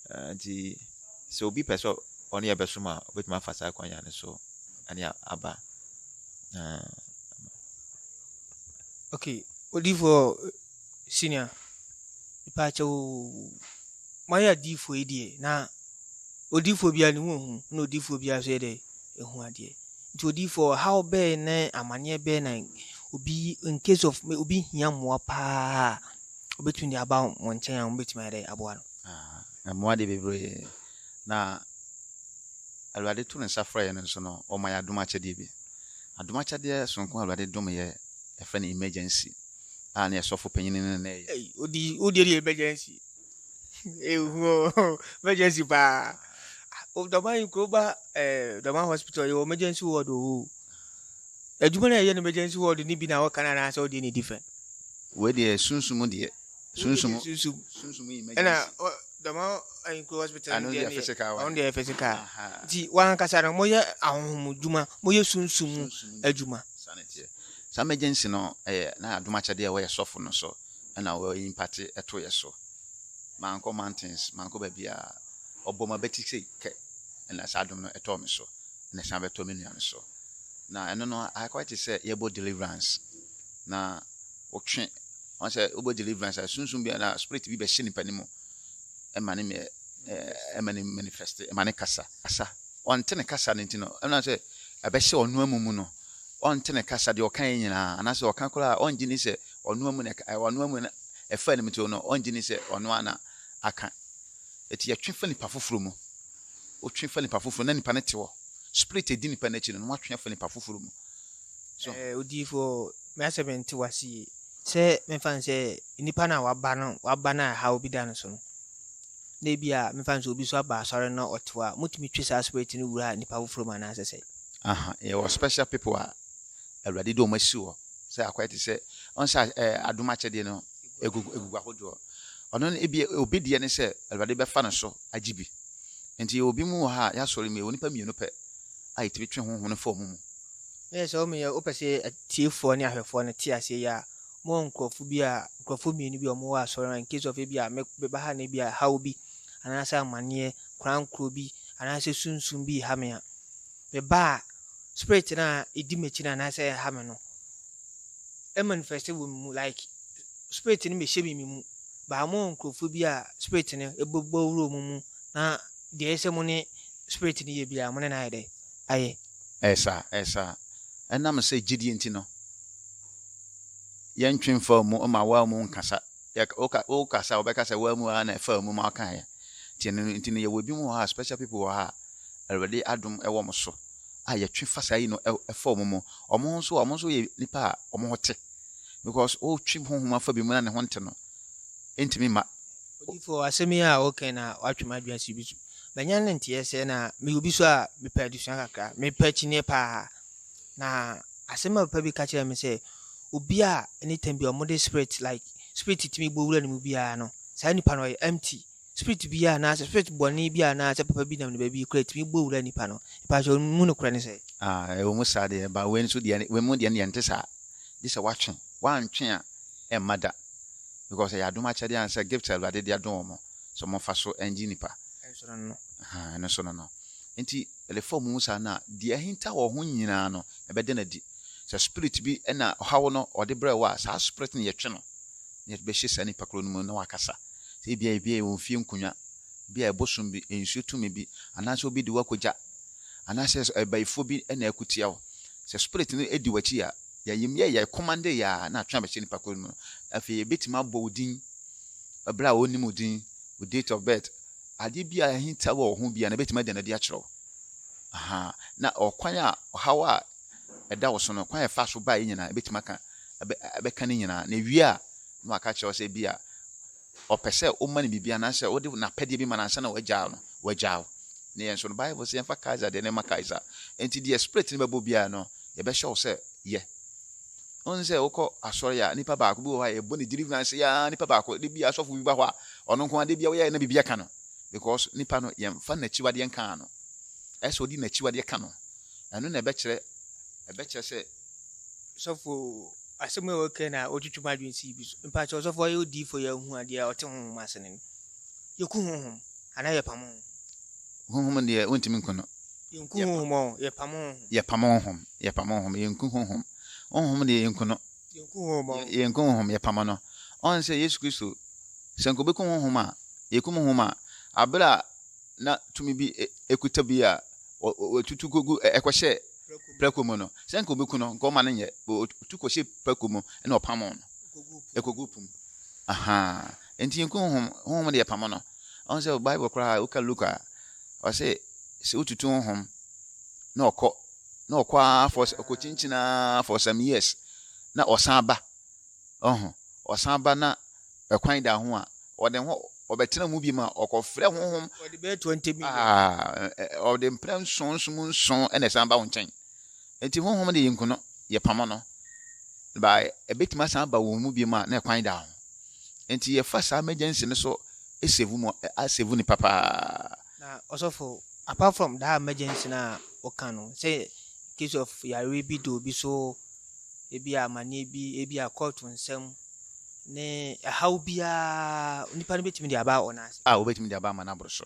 eh, nti sɛ obi pɛ sɛ ɔne yɛ bɛsom a obetumi afa saa kwan yɛn no so ɛne aba. Na okay, odiyifoɔ senior, mepaakyɛw moayɛ adiyifoɔ yi deɛ na odiyifoɔ biara ne ho hu na odiyifoɔ biara nso yɛ dɛ ehu adeɛ. Nti odiyifoɔ ɔhaw bɛɛ na amaneɛ bɛɛ na obi in case of obi hia mmoa paa a obetumi de aba wɔn nkyɛn a wɔbɛtumi ayɛ dɛ aboa no. Ah, mmoa de bebree. Na Awurade to ne nsa frɛ yɛn nso no, ɔma yɛn adom akyɛdeɛ bi. Adom akyɛdeɛ sononko a Awurade dom yɛ, yɛfrɛ no emergency a ne yɛ sɔfo panyin no na ɛyɛ. Ei, wodi, wodi ɛdi emergency. Ehu o, emergency paa. O, dɔma yi kuro ba ɛɛ dɔma hospital yɛ wɔ emergency ward o. Adwuma na yɛyɛ no emergency ward ni bi na ɔka na anaasɛ ɔdeɛ ne different. Wei deɛ sunsum deɛ, sunsum, sunsum emergency. Dɛm ayikuo hospital no deɛ no yɛ ɔno deɛ yɛ physical nti wɔn ankasa no wɔyɛ ahohom adwuma wɔyɛ sunsun mu adwuma. saa na ɛteɛ saa emergency no ɛyɛ na adom akyɛdeɛ a wɔyɛ sɔfo no so ɛna wɔyɛ impate ɛto yɛ so mankɔ mountains mankɔ baabi a ɔbɔ ma bɛti sei kɛ ɛna saa adom no ɛtɔɔ me so ɛna ɛsan bɛtɔ me nua no so na ɛno no ayɛ kɔ te sɛ yɛbɔ deliverance na ɔtwe ɔn sɛ wobɛ deliverance a sunsun bi anaa spirit bi bɛhyɛ nipa ne mu ɛma ne mɛ ɛma ne manifest ɛma ne kasa kasa ɔnte ne kasa ne nti no ɛna sɛ ɛbɛhyɛ ɔno amu mu no ɔnte ne kasa deɛ ɔka yɛ nyinaa anaasɛ ɔka koraa a ɔngye ne sɛ ɔno amu na ɔno amu na ɛfa ne mu ti no ɔngye ne sɛ ɔno ana aka ɛti yɛtwe fa nipa foforɔ mu wotwe fa nipa foforɔ na nipa ne te hɔ spirit ɛdi nipa n'akyi no na watwe afa nipa foforɔ mu so. Ɛɛ, odiyifoɔ, me asɛm nte w'ase yie. Sɛ mefa no sɛ nnipa no a waba no waba no a ɛhaw bi da no so no, na ebi a mefa no sɛ obi nso aba asɔre na ɔte hɔ a, motumi twe saa spirit no wura nnipa foforɔ mu anaasɛ sɛ? Aha, yɛwɔ special people a Awurade de wɔn asi hɔ sɛ akɔyɛ te sɛ wɔn sɛ ɛɛ adom akyɛdeɛ no egugu egugu ahodoɔ. Ɔno no ebi obi deɛ ne sɛ Awurade bɛfa no so agye bi. Nti yɛwɔ bi mu wɔ ha a yɛasɔre mu yɛwɔ nnipa mmienu pɛ a yɛtumi twe honhom no fa wɔn mu. Na yɛ sɛ wɔn yɛ wopɛ sɛ atiefoɔ ne ahwɛfoɔ no te aseɛ yi a, mowɔ nkurɔfo bi a nkurɔfo mmienu bi a wɔwɔ asɔre no in case of ebi a meba ha na ebi a haw bi anaasɛ amanneɛ korankoro bi anaasɛ sunsum bi ha me a meba a spirit no a ɛdi m'akyi no anaasɛ ɛha me no ɛmanifest wɔ me mu like spirit no mehyɛ me me mu baa mowɔ nkurɔfo bi a spirit no ɛbɛbɔ wura mu mu na deɛ ɛsɛ mo ne spirit no yɛ biara mo ne no ayɛ dɛ ayɛ Ɛyɛ saa, ɛyɛ saa. Ɛnam sɛ gyidie nti no, yɛntwe mfaa mu ma waa mu nkasa. Wokasa a, wɔbɛka sɛ waa mu ara na ɛfaa mu ma wokaeɛ. Nti ɛno nti no, yɛwɔ ebinom wɔ ha a, special people wɔ ha a, Awurade adom wɔ wɔn so a yɛtwe fa saa yi no fa wɔn mu. Wɔn nso, wɔn nso yɛ nnipa a wɔn ho te. Because wotwe honhom afa bi mu na ne ho nte no, ɛntumi mma. Odiyifoɔ, asɛm yi a wokae no a, woatwe m'adwene asi bi so. Manya ne nteɛ sɛ na meyɛ obi so a mepɛ adesua kakra, mepɛ akyinnyeɛ paa. Na asɛm a papa bi ka kyerɛɛ me sɛ, obi a anytime bi a wɔde spirit like spirit tumi bɔ wura ne mu biara no, saa nipa no ɔyɛ empty. Spirit bi a anaasɛ spirit bɔne bi a anaasɛ papa bi nam ne baabi kura tumi bɔ wura nipa no. Mepɛ akyɛ mu nokorɛ ne sɛ. Ah, ɛwɔ mu saa deɛ, ba wei nso deɛ, wei mu deɛ ne deɛ nte saa. Gye sɛ woatwe, woantwe a ɛmma da. Because ɛyɛ adom akyɛdeɛ anaasɛ gift a Awurade de adom wɔn. so wɔmfa so ngye nnipa. Ɛnso no no. Ahaa, ɛno nso no no. Enti, ɛdefa wɔn mu saa no a, deɛ ahinta wɔ ho nyinaa no, ɛbɛda no adi. Sɛ spirit bi na ɔha wo no, ɔde brɛ wo a, saa spirit no yɛtwe no, na yɛde bɛhyɛ saa nnipa korɔ no mu na wakasa. Sɛ ebia ebi yɛ wɔn fie nkonnwa, ebi yɛ bosom bi, nsuo tumi bi, anaasɛ obi de wo akɔ gya, anaasɛ abayifoɔ bi na ɛko tia wo. Sɛ spirit no di w'akyi a, yɛayɛ mu yɛ yɛ commande yɛ a na atwe abɛhyɛ nnipa korɔ no mu no, afei yɛbɛtumi abɔ wo din bere a wonnim wo din, wo date of birth, ade bi a ahinta wɔ wo ho bi a na ebetumi ada no adi akyerɛ wo. Aha, na ɔkwan a ɔhaw a ɛda wo so no, kwan a ɛfa so bae nyinaa, ebetumi aka ɛbɛka ne nyinaa. Na wie a, na waka akyerɛ wo sɛ bi a ɔpɛ sɛ woma no biribi anaasɛ wode n'apɛdeɛ bi ma no ansa na wagyaa no, wagyaa wo. Ne yɛn nso no, Bible sɛ yɛmfa Kaesar deɛ ne ma Kaesar. Enti deɛ Spirit no bɛbɔ biara no, yɛbɛhyɛ wo sɛ yɛ. Wohu sɛ wokɔ asɔre a, nipa baako bi wɔ hɔ a yɛbɔ ne deliverance yi ara, nipa baako, da bi asɔfo bi ba hɔ a, ɔno nko ara da bi a woyɛ na biribi aka no. Because nipa no yɛmfa n'akyiwadeɛ nkaa no. Ɛsɛ ɔde n'akyiwadeɛ ka no. Ɛno na ɛbɛkyerɛ, ɛbɛkyerɛ sɛ. Sɔfo, asɛm a wɔka na ɔtwitwi mu adwene si bi so. Mpa kyɛ ɔsɔfo ɔyɛ odiifo yɛ hu adeɛ a ɔte honhom ase no. Yɛku honhom anaa yɛpam honhom. Honhom deɛ wontumi nko no. Yɛnku honhom ɔ, yɛpam honhom. Yɛpam honhom, yɛpam honhom, yɛnku honhom. Honhom deɛ yɛnku no. Yɛnku honhom ɔ. Yɛnku honhom, yɛpam no. Ɔn sɛ Yesu Kristo, sɛ nka obeku honhom a, yɛkum honhom a, abere a na tumi bi kuta bi a wɔtutu kogu ɛkɔhyɛ prako mu no, sɛ nka obeku no, nka ɔma no nyɛ, wɔtu kɔhyɛ prako mu na ɔpam no, ɛkɔgu po mu. Ahaa. Enti nkum hom, honhom de yɛpam no. Ɔnn sɛ Bible koraa woka Luke a, ɔse sɛ wotutu honhom na ɔkɔ, na ɔkɔ ara for ɔkɔkyinkyin ara for some years na ɔsan ba. Ɔho, ɔsan ba na ɛkwan da ho a, ɔde ho ɔbɛtena mu biom a, ɔkɔfrɛ honhom. Ɔde bɛyɛ 20 million. Aa, ɛ, ɔde mprɛ nson nson mu nson na ɛsan ba wo nkyɛn. Enti honhom de yenku no, yɛpamo no, na ebetumi asan aba wɔn mu biom a, na ɛkwan da ho. Enti yɛfa saa emergency no so save mo, asave nipa paa. Na ɔsɔfo, apart from that emergency no a woka no, sɛ in case of yareɛ bi da obi so, ebi a amaneɛ bi, ebi a court nsɛm, ne ɛhaw biara, nipa no betumi de aba wɔn ase. A, wobetumi de aba ama no aboro so.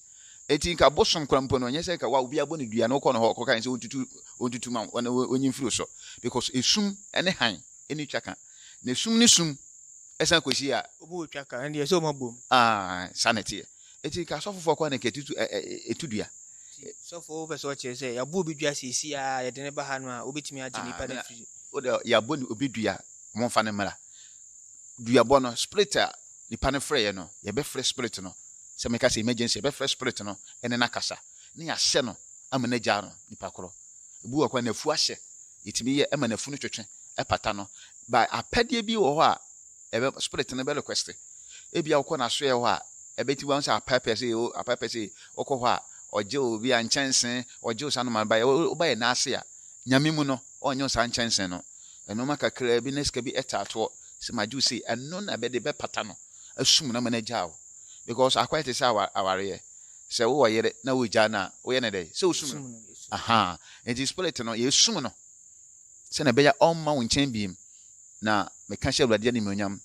Enti nka bosom koraa mpo no, ɛnyɛ sɛ nka wa obi abɔ no dua na wokɔ no hɔ kɔka sɛ ontutu ontutu ma wɔn onyi mfiri so because esum ne hann ne twa ka na esum ne sum ɛsan kɔsi a Obi wɔ twa ka ɛndeɛ sɛ wɔn abom. Ah, saa na ɛteɛ. Enti nka asɔfofoɔ koraa na nka ɛtutu ɛ ɛ ɛtu dua. Nti sɔfo wopɛ sɛ ɔkyerɛ sɛ yɛabɔ obi dua seesei ara yɛde no ba ha no a wobɛtumi agye Ah, nipa no na afiri. wode yɛabɔ ne obi dua, wɔmfa no mmra. Duabɔ no, spirit a Nipa no frɛeɛ no, yɛbɛfrɛ Spirit no, sɛ meka sɛ emergency, yɛbɛfrɛ Spirit no ne no akasa, na yɛahyɛ no ama no agyaa no, nipa korɔ. Ebi wɔ hɔ koraa n'afu ahyɛ, yɛtumi yɛ ma n'afu no twetwe, ɛpata no. But apɛdeɛ bi wɔ hɔ a ɛbɛ, Spirit no bɛ request. Ebia wokɔ n'asoɛɛ hɔ a, ɛbɛtumi wahu sɛ apɛɛpɛɛ sei, o, apɛɛpɛɛ sei, wokɔ hɔ a, ɔgye wo bi a nkyɛnsee, ɔgye wo saa nnoɔma no baeɛ, woba yɛ nan ase a, Nyame mu no, ɔnnye wo saa nkyɛnsee no. Nnoɔma kakraa bi na sika bi taa toɔ sɛ magye wo sei, ɛno na bɛde bɛpata no asum no ama no agyaa wo because akɔyɛ te sɛ awareɛ, sɛ wowɔ yere na wogyaa no a woyɛ no dɛn? Sɛ wosum no. Ahaa, nti spirit no yɛsum no sɛdeɛ ɛbɛyɛ a ɔmma wo nkyɛn biem na meka hyɛ Awurade animuonyam,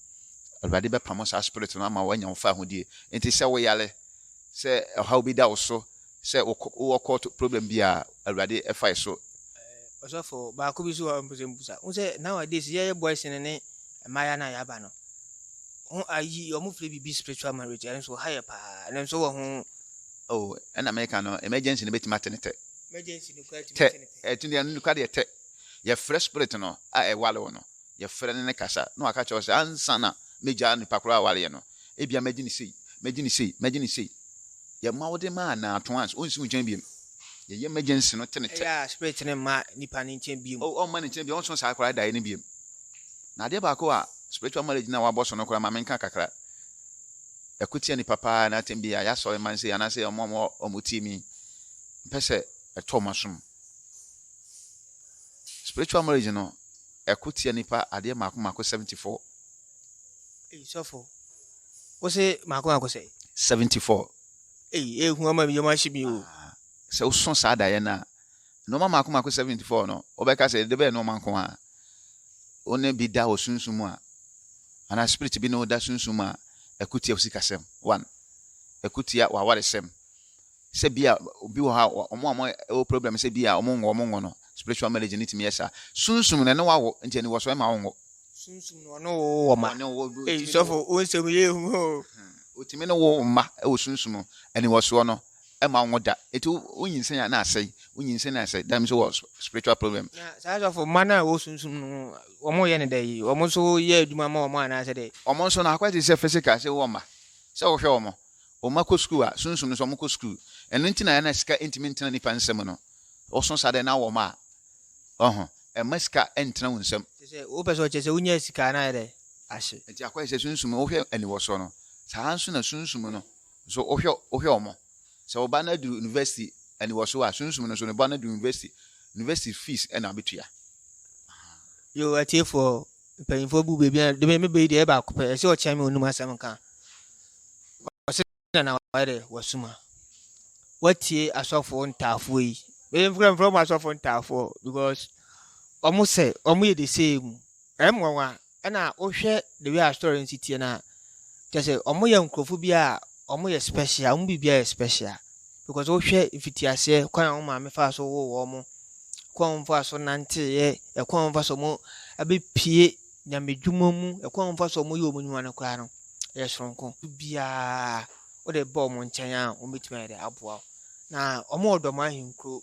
Awurade bɛpamo saa spirit no ama woanya wo faahodie. Nti sɛ woyare, sɛ ɔhaw bi da wo so, sɛ wowɔ court problem bi a Awurade fae so. Ɔsɔfo baako bi so hɔ mpɛ sɛ mbusa. Wohu sɛ nowadays yɛyɛ boys no ne mmayewa no a yɛaba no ho ayi wɔn frɛ biribi spiritual marriage ɛno nso ha yɛ paa ɛno nso wɔ ho. Oh ɛna meka no emergency no bɛtumi ate ne tɛ. Emergency no koraa tumi ate ne tɛ. Ɛtumi ɛno koraa deɛ tɛ. Yɛfrɛ spirit no a ɛware wo no yɛfrɛ no ne kasa na waka kyerɛ wo sɛ ansa na mɛgyaa nipa korɔ a awareɛ no Ebia mɛgye no sei, mɛgye no sei, mɛgye no sei. Yɛma wode ma a, na atõ ans, ɔnsi wo nkyɛn biom. Yɛyɛ emergency no tenetɛ. Ɛyɛ a spirit no mma nipa no nkyɛn biom. Oh, ɔmma ne nkyɛn biom, ɔnso saa koraa daeɛ no biom. Na adeɛ baako a spiritual marriage no a wabɔ so no koraa, ma menka kakra. Ɛko tia nipa paa, na atɛm bi a yɛasɔre man sei, anaasɛ ɔmo a ɔmo tie mi, mpɛ sɛ ɛtɔ ɔmo asom. Spiritual marriage no, ɛko tia nipa adeɛ mmaako mmaako 74. Ei sɔfo, wo se mako mako sɛ? 74. Ei, ehu ama me yam ahye me o. Ah, sɛ wosɔ saa daeɛ no a, nnoɔma mako mako 74 no, wobɛka sɛ ɛde bɛyɛ nnoɔma nko a wo ne bi da wɔ sunsum mu a, anaa spirit bi ne wo da sunsum mu a, ɛko tia wo sikasɛm, one, ɛko tia w'awaresɛm, sɛ bi a obi wɔ hɔ a wɔn a wɔwɔ problem sɛ bi a wɔn nwo wɔn nwo no spiritual marriage no tumi yɛ saa sunsum na ɛne wawo nti ɛni wɔ so ɛma wɔnwo. sunsum na ɔne wo wɔ ma eyi sɔfo wo nsɛm yɛ ehu hɔ o. otumi ne wo mma ɛwɔ sunsum ɛni wɔ soɔ no ɛma wɔnwo da eti wo nyinsɛn a na asɛe wo nyinsɛn na asɛe dam so wɔ spiritual problem. na saa sɔfo mma no a ɛwɔ sunsum no wɔn yɛ ne dɛ yi wɔn nso yɛ adwuma ma wɔn anaasɛ dɛ. wɔn nso no akɔyɛ te sɛ physical sɛ wowɔ mma sɛ wohwɛ wɔn wɔn mma kɔ sukuu a, sunsum no sɛ wɔkɔ sukuu. Ɛno nti na na sika ntumi ntena nnipa nsam no. Woso saa dɛ na wɔ mma a, ɔho, mma sika ntena wo nsam. Kyerɛ sɛ, wopɛ sɛ ɔkyerɛ sɛ wonyaa sika a, na ayɛ dɛ ahye. Nti akɔyɛ sɛ sunsum no, wohwɛ aniwɔsoɔ no, saa nso na sunsum no nso wohwɛ, wohwɛ wɔn. Sɛ wo ba no aduru university aniwɔsoɔ a, sunsum no nso ne ba no aduru university, university fees na wobɛtua. Aha. Yoo, atiefoɔ, Mpanyimfoɔ bu baabi a dɛbɛ mebɛyi deɛ baako pɛ ɛsɛ ɔkyɛn me onum asɛm nka ɔsɛ na na wayɛ dɛ wasuma watie asɔfoɔ ntaafoɔ yi bɛyɛ mfrɛ mfrɛ ɔmo asɔfoɔ ntaafoɔ because ɔmo sɛ ɔmo yɛ de sɛ mu ɛm nwanwa ɛna wohwɛ the way a story nsi tie na kyɛ sɛ ɔmo yɛ nkurɔfo bi a ɔmo yɛ special ɔmo biribi a yɛ special because wohwɛ mfitiaseɛ kwan a wɔn maame faa so woo wɔn mo, kwan a wɔn faa so nanteeɛ, ɛkwan a wɔn fa so wɔn abɛpue nyamedwuma mu, ɛkwan a wɔn fa so wɔn yɛ wɔn nnwuma no koraa no, ɛyɛ soronko. Biara wode ba wɔn nkyɛn a wɔbɛtumi ayɛ dɛ aboa wo. Na wɔn wɔ dɔm ahenkuro,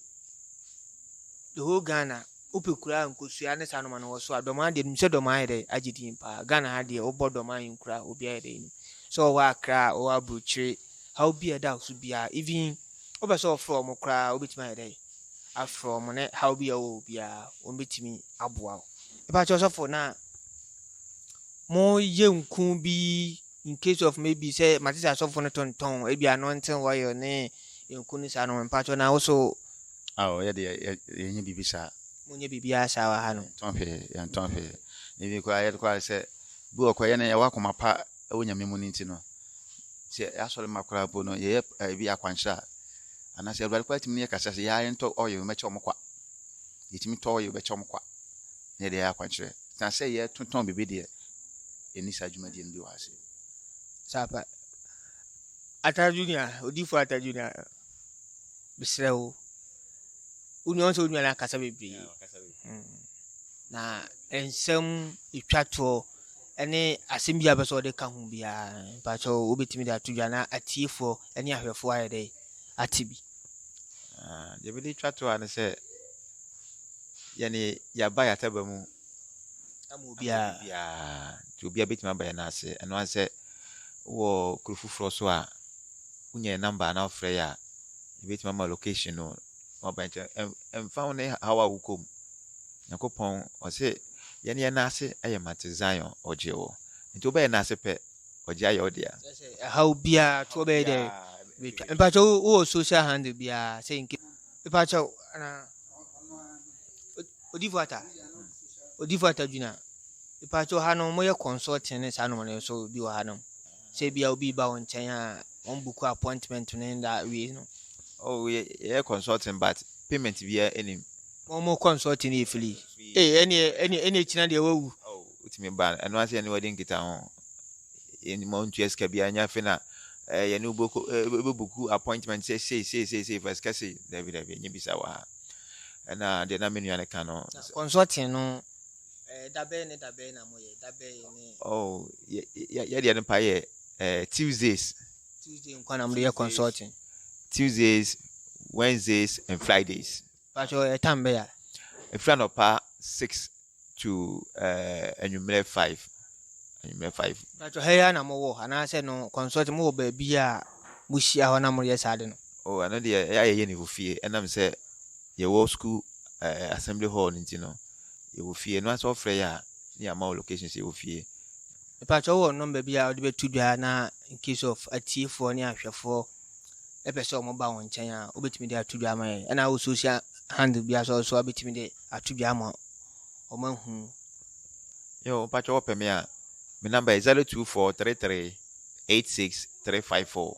the whole Ghana, wopɛ kura nkosua ne saa noma no wɔ so a, dɔm adeɛ nim sɛ dɔm ayɛ dɛ agye din paa. Ghana ha deɛ wobɔ dɔm ahenkura obi ayɛ dɛ nim. So wɔwɔ Accra, wɔwɔ Aburokyire, haw bi a ɛda wo so biara even wopɛ sɛ wɔfrɛ wɔn koraa wobɛtumi ayɛ dɛ afrɛ wɔn ne haw bi a ɛwɔ biara wɔn bɛtumi aboa wo ɛbɛkyɛ ɔsɔfo na mo yɛ nku bi in case of maybe sɛ mate sɛ asɔfo no tontɔn ebi anointing oil ne nku ne saa no mpakyɛ na wo so awo yɛ de yɛnyɛ biribi saa monyɛ biribiara saa wɔ ha no yɛntɔn hwee yɛntɔn hwee ebi koraa yɛde koraa sɛ bi wɔ kɔ yɛ no yɛwɔ akoma pa wɔ Nyame mu no nti no, sɛ yɛasɔre ma koraa mpo no, yɛyɛ ebi akwankyerɛ a, anaasɛ Awurade koraa tumi ne yɛ kasa sɛ yɛa yɛntɔ oil mɛkyɛ wɔn kwa. Yɛtumi tɔ oil bɛkyɛ wɔn kwa na yɛde ayɛ akwankyerɛ. Na sɛ yɛtotɔn biribi deɛ, ɛni saa dwumadie no bi wɔ ase. Sapa. Ata Junior, odifo Ata Junior, mesrɛ wo, wonuan sɛ wonuan akasa bebree. Hmm. Na nsɛm ɛtwa toɔ ɛne asɛm bi a bɛsɛ ɔde ka ho biara mpakyɛ wobɛtumi de ato dwa na atiefoɔ ne ahwɛfoɔ ayɛ dɛ ate bi ah, deɛ bɛde twa to a no sɛ yɛne yɛaba yɛataba mu ama obiara nti obiara bɛtumi aba yɛn ase ɛno ane sɛ wɔ kuro foforɔ so a wonya yɛ number na wofrɛ yɛ a yɛbɛtumi ama location no Wɔbɛkyɛ ɛmfa ho ne haw a wokɔ mu. Nyankopɔn ɔse yɛn yɛ n'ase yɛ ma te Zion ɔgye wo. Nti wobɛyɛ n'ase pɛ ɔgye ayɛ wo dea. Sɛ ɛhaw biara to wobɛyɛ dɛ betwa. Mpakyɛ wowɔ social handle biara sɛ nke. Mpakyɛ wo ana odifo ata odifo ata dwuna. Mpakyɛ wo ha no mo yɛ consulting ne saa nom no nso bi wɔ ha nom. sɛ ebia obi reba wo nkyɛn a wɔn buku appointment no nda awie no. Oh, yɛ yɛ consulting but payment biara enim. Wɔn mo consulting yɛ fili. Ee ɛni ɛni ɛni ekyina deɛ wawu. Oh, wotumi ba ɛno ase yɛ ne wɔde nkita ho. Yɛn ma ntua sika biara nya fe na ɛɛ eh, yɛ ne wobɛkɔ ɛɛ eh, buku appointment sɛ sei sei sei sei fɛ sika sei dabi dabi nye bisa wɔ ha. Ɛna deɛ na me nua no ka no. Consulting no Eh, da bɛyɛ ne da bɛyɛ na mo yɛ da bɛyɛ ne. oh yɛ yɛ yɛ deɛ no pa yɛ eh, tuesdays tuesday nkwa na mo de yɛ consulting tuesdays wednesdays and fridays patro yɛ tam bɛyɛ ɛfiri anɔpa six to eh, anwummerɛ five anwummerɛ five patro ha yɛ na mo wɔ anaasɛ no consulting mo wɔ baabi a mo hyia hɔ na mo yɛ saa de no oh ɛno deɛ ɛyɛ a yɛyɛ ne wɔ fie ɛnam sɛ Yɛwɔ sukuu ɛɛ assembly hall no nti no, yɛwɔ fie. Ɛno ara sɛ wɔfrɛ yɛ a, na yɛama wo location sɛ yɛwɔ fie. Mepakyɛ wowɔ nɔmba bi a wode bɛto dwa na in case of atiefoɔ ne ahwɛfoɔ pɛ sɛ wɔba wo nkyɛn a, wobɛtumi de ato dwa ama yɛn. Ɛna wo social handle bi asɔ so a wobɛtumi de ato dwa ama wɔn ahu. Yo, mepakyɛ wɔpɛ me a, me nɔmba yɛ 0243386354.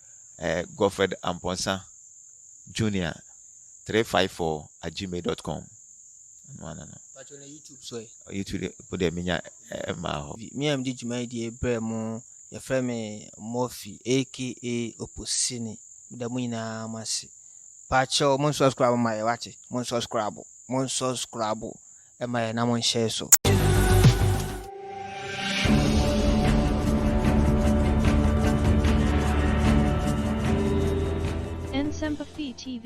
eh, Godfred Amponsah Junior three five four at gmail dot com. Pacho na YouTube so ɛ. Eh? YouTube po dɛ menya ɛmaa eh, hɔ. Me a mede dwuma yi deɛ brɛ mo yɛfrɛ me Murphy aka Oposini meda mo nyinaa mo ase. Pacho mo nsubscribe ma yɛ wakye mo nsubscribe mo nsubscribe ɛma yɛn nam nhyɛɛ so. Nsɛmpa Fii TV.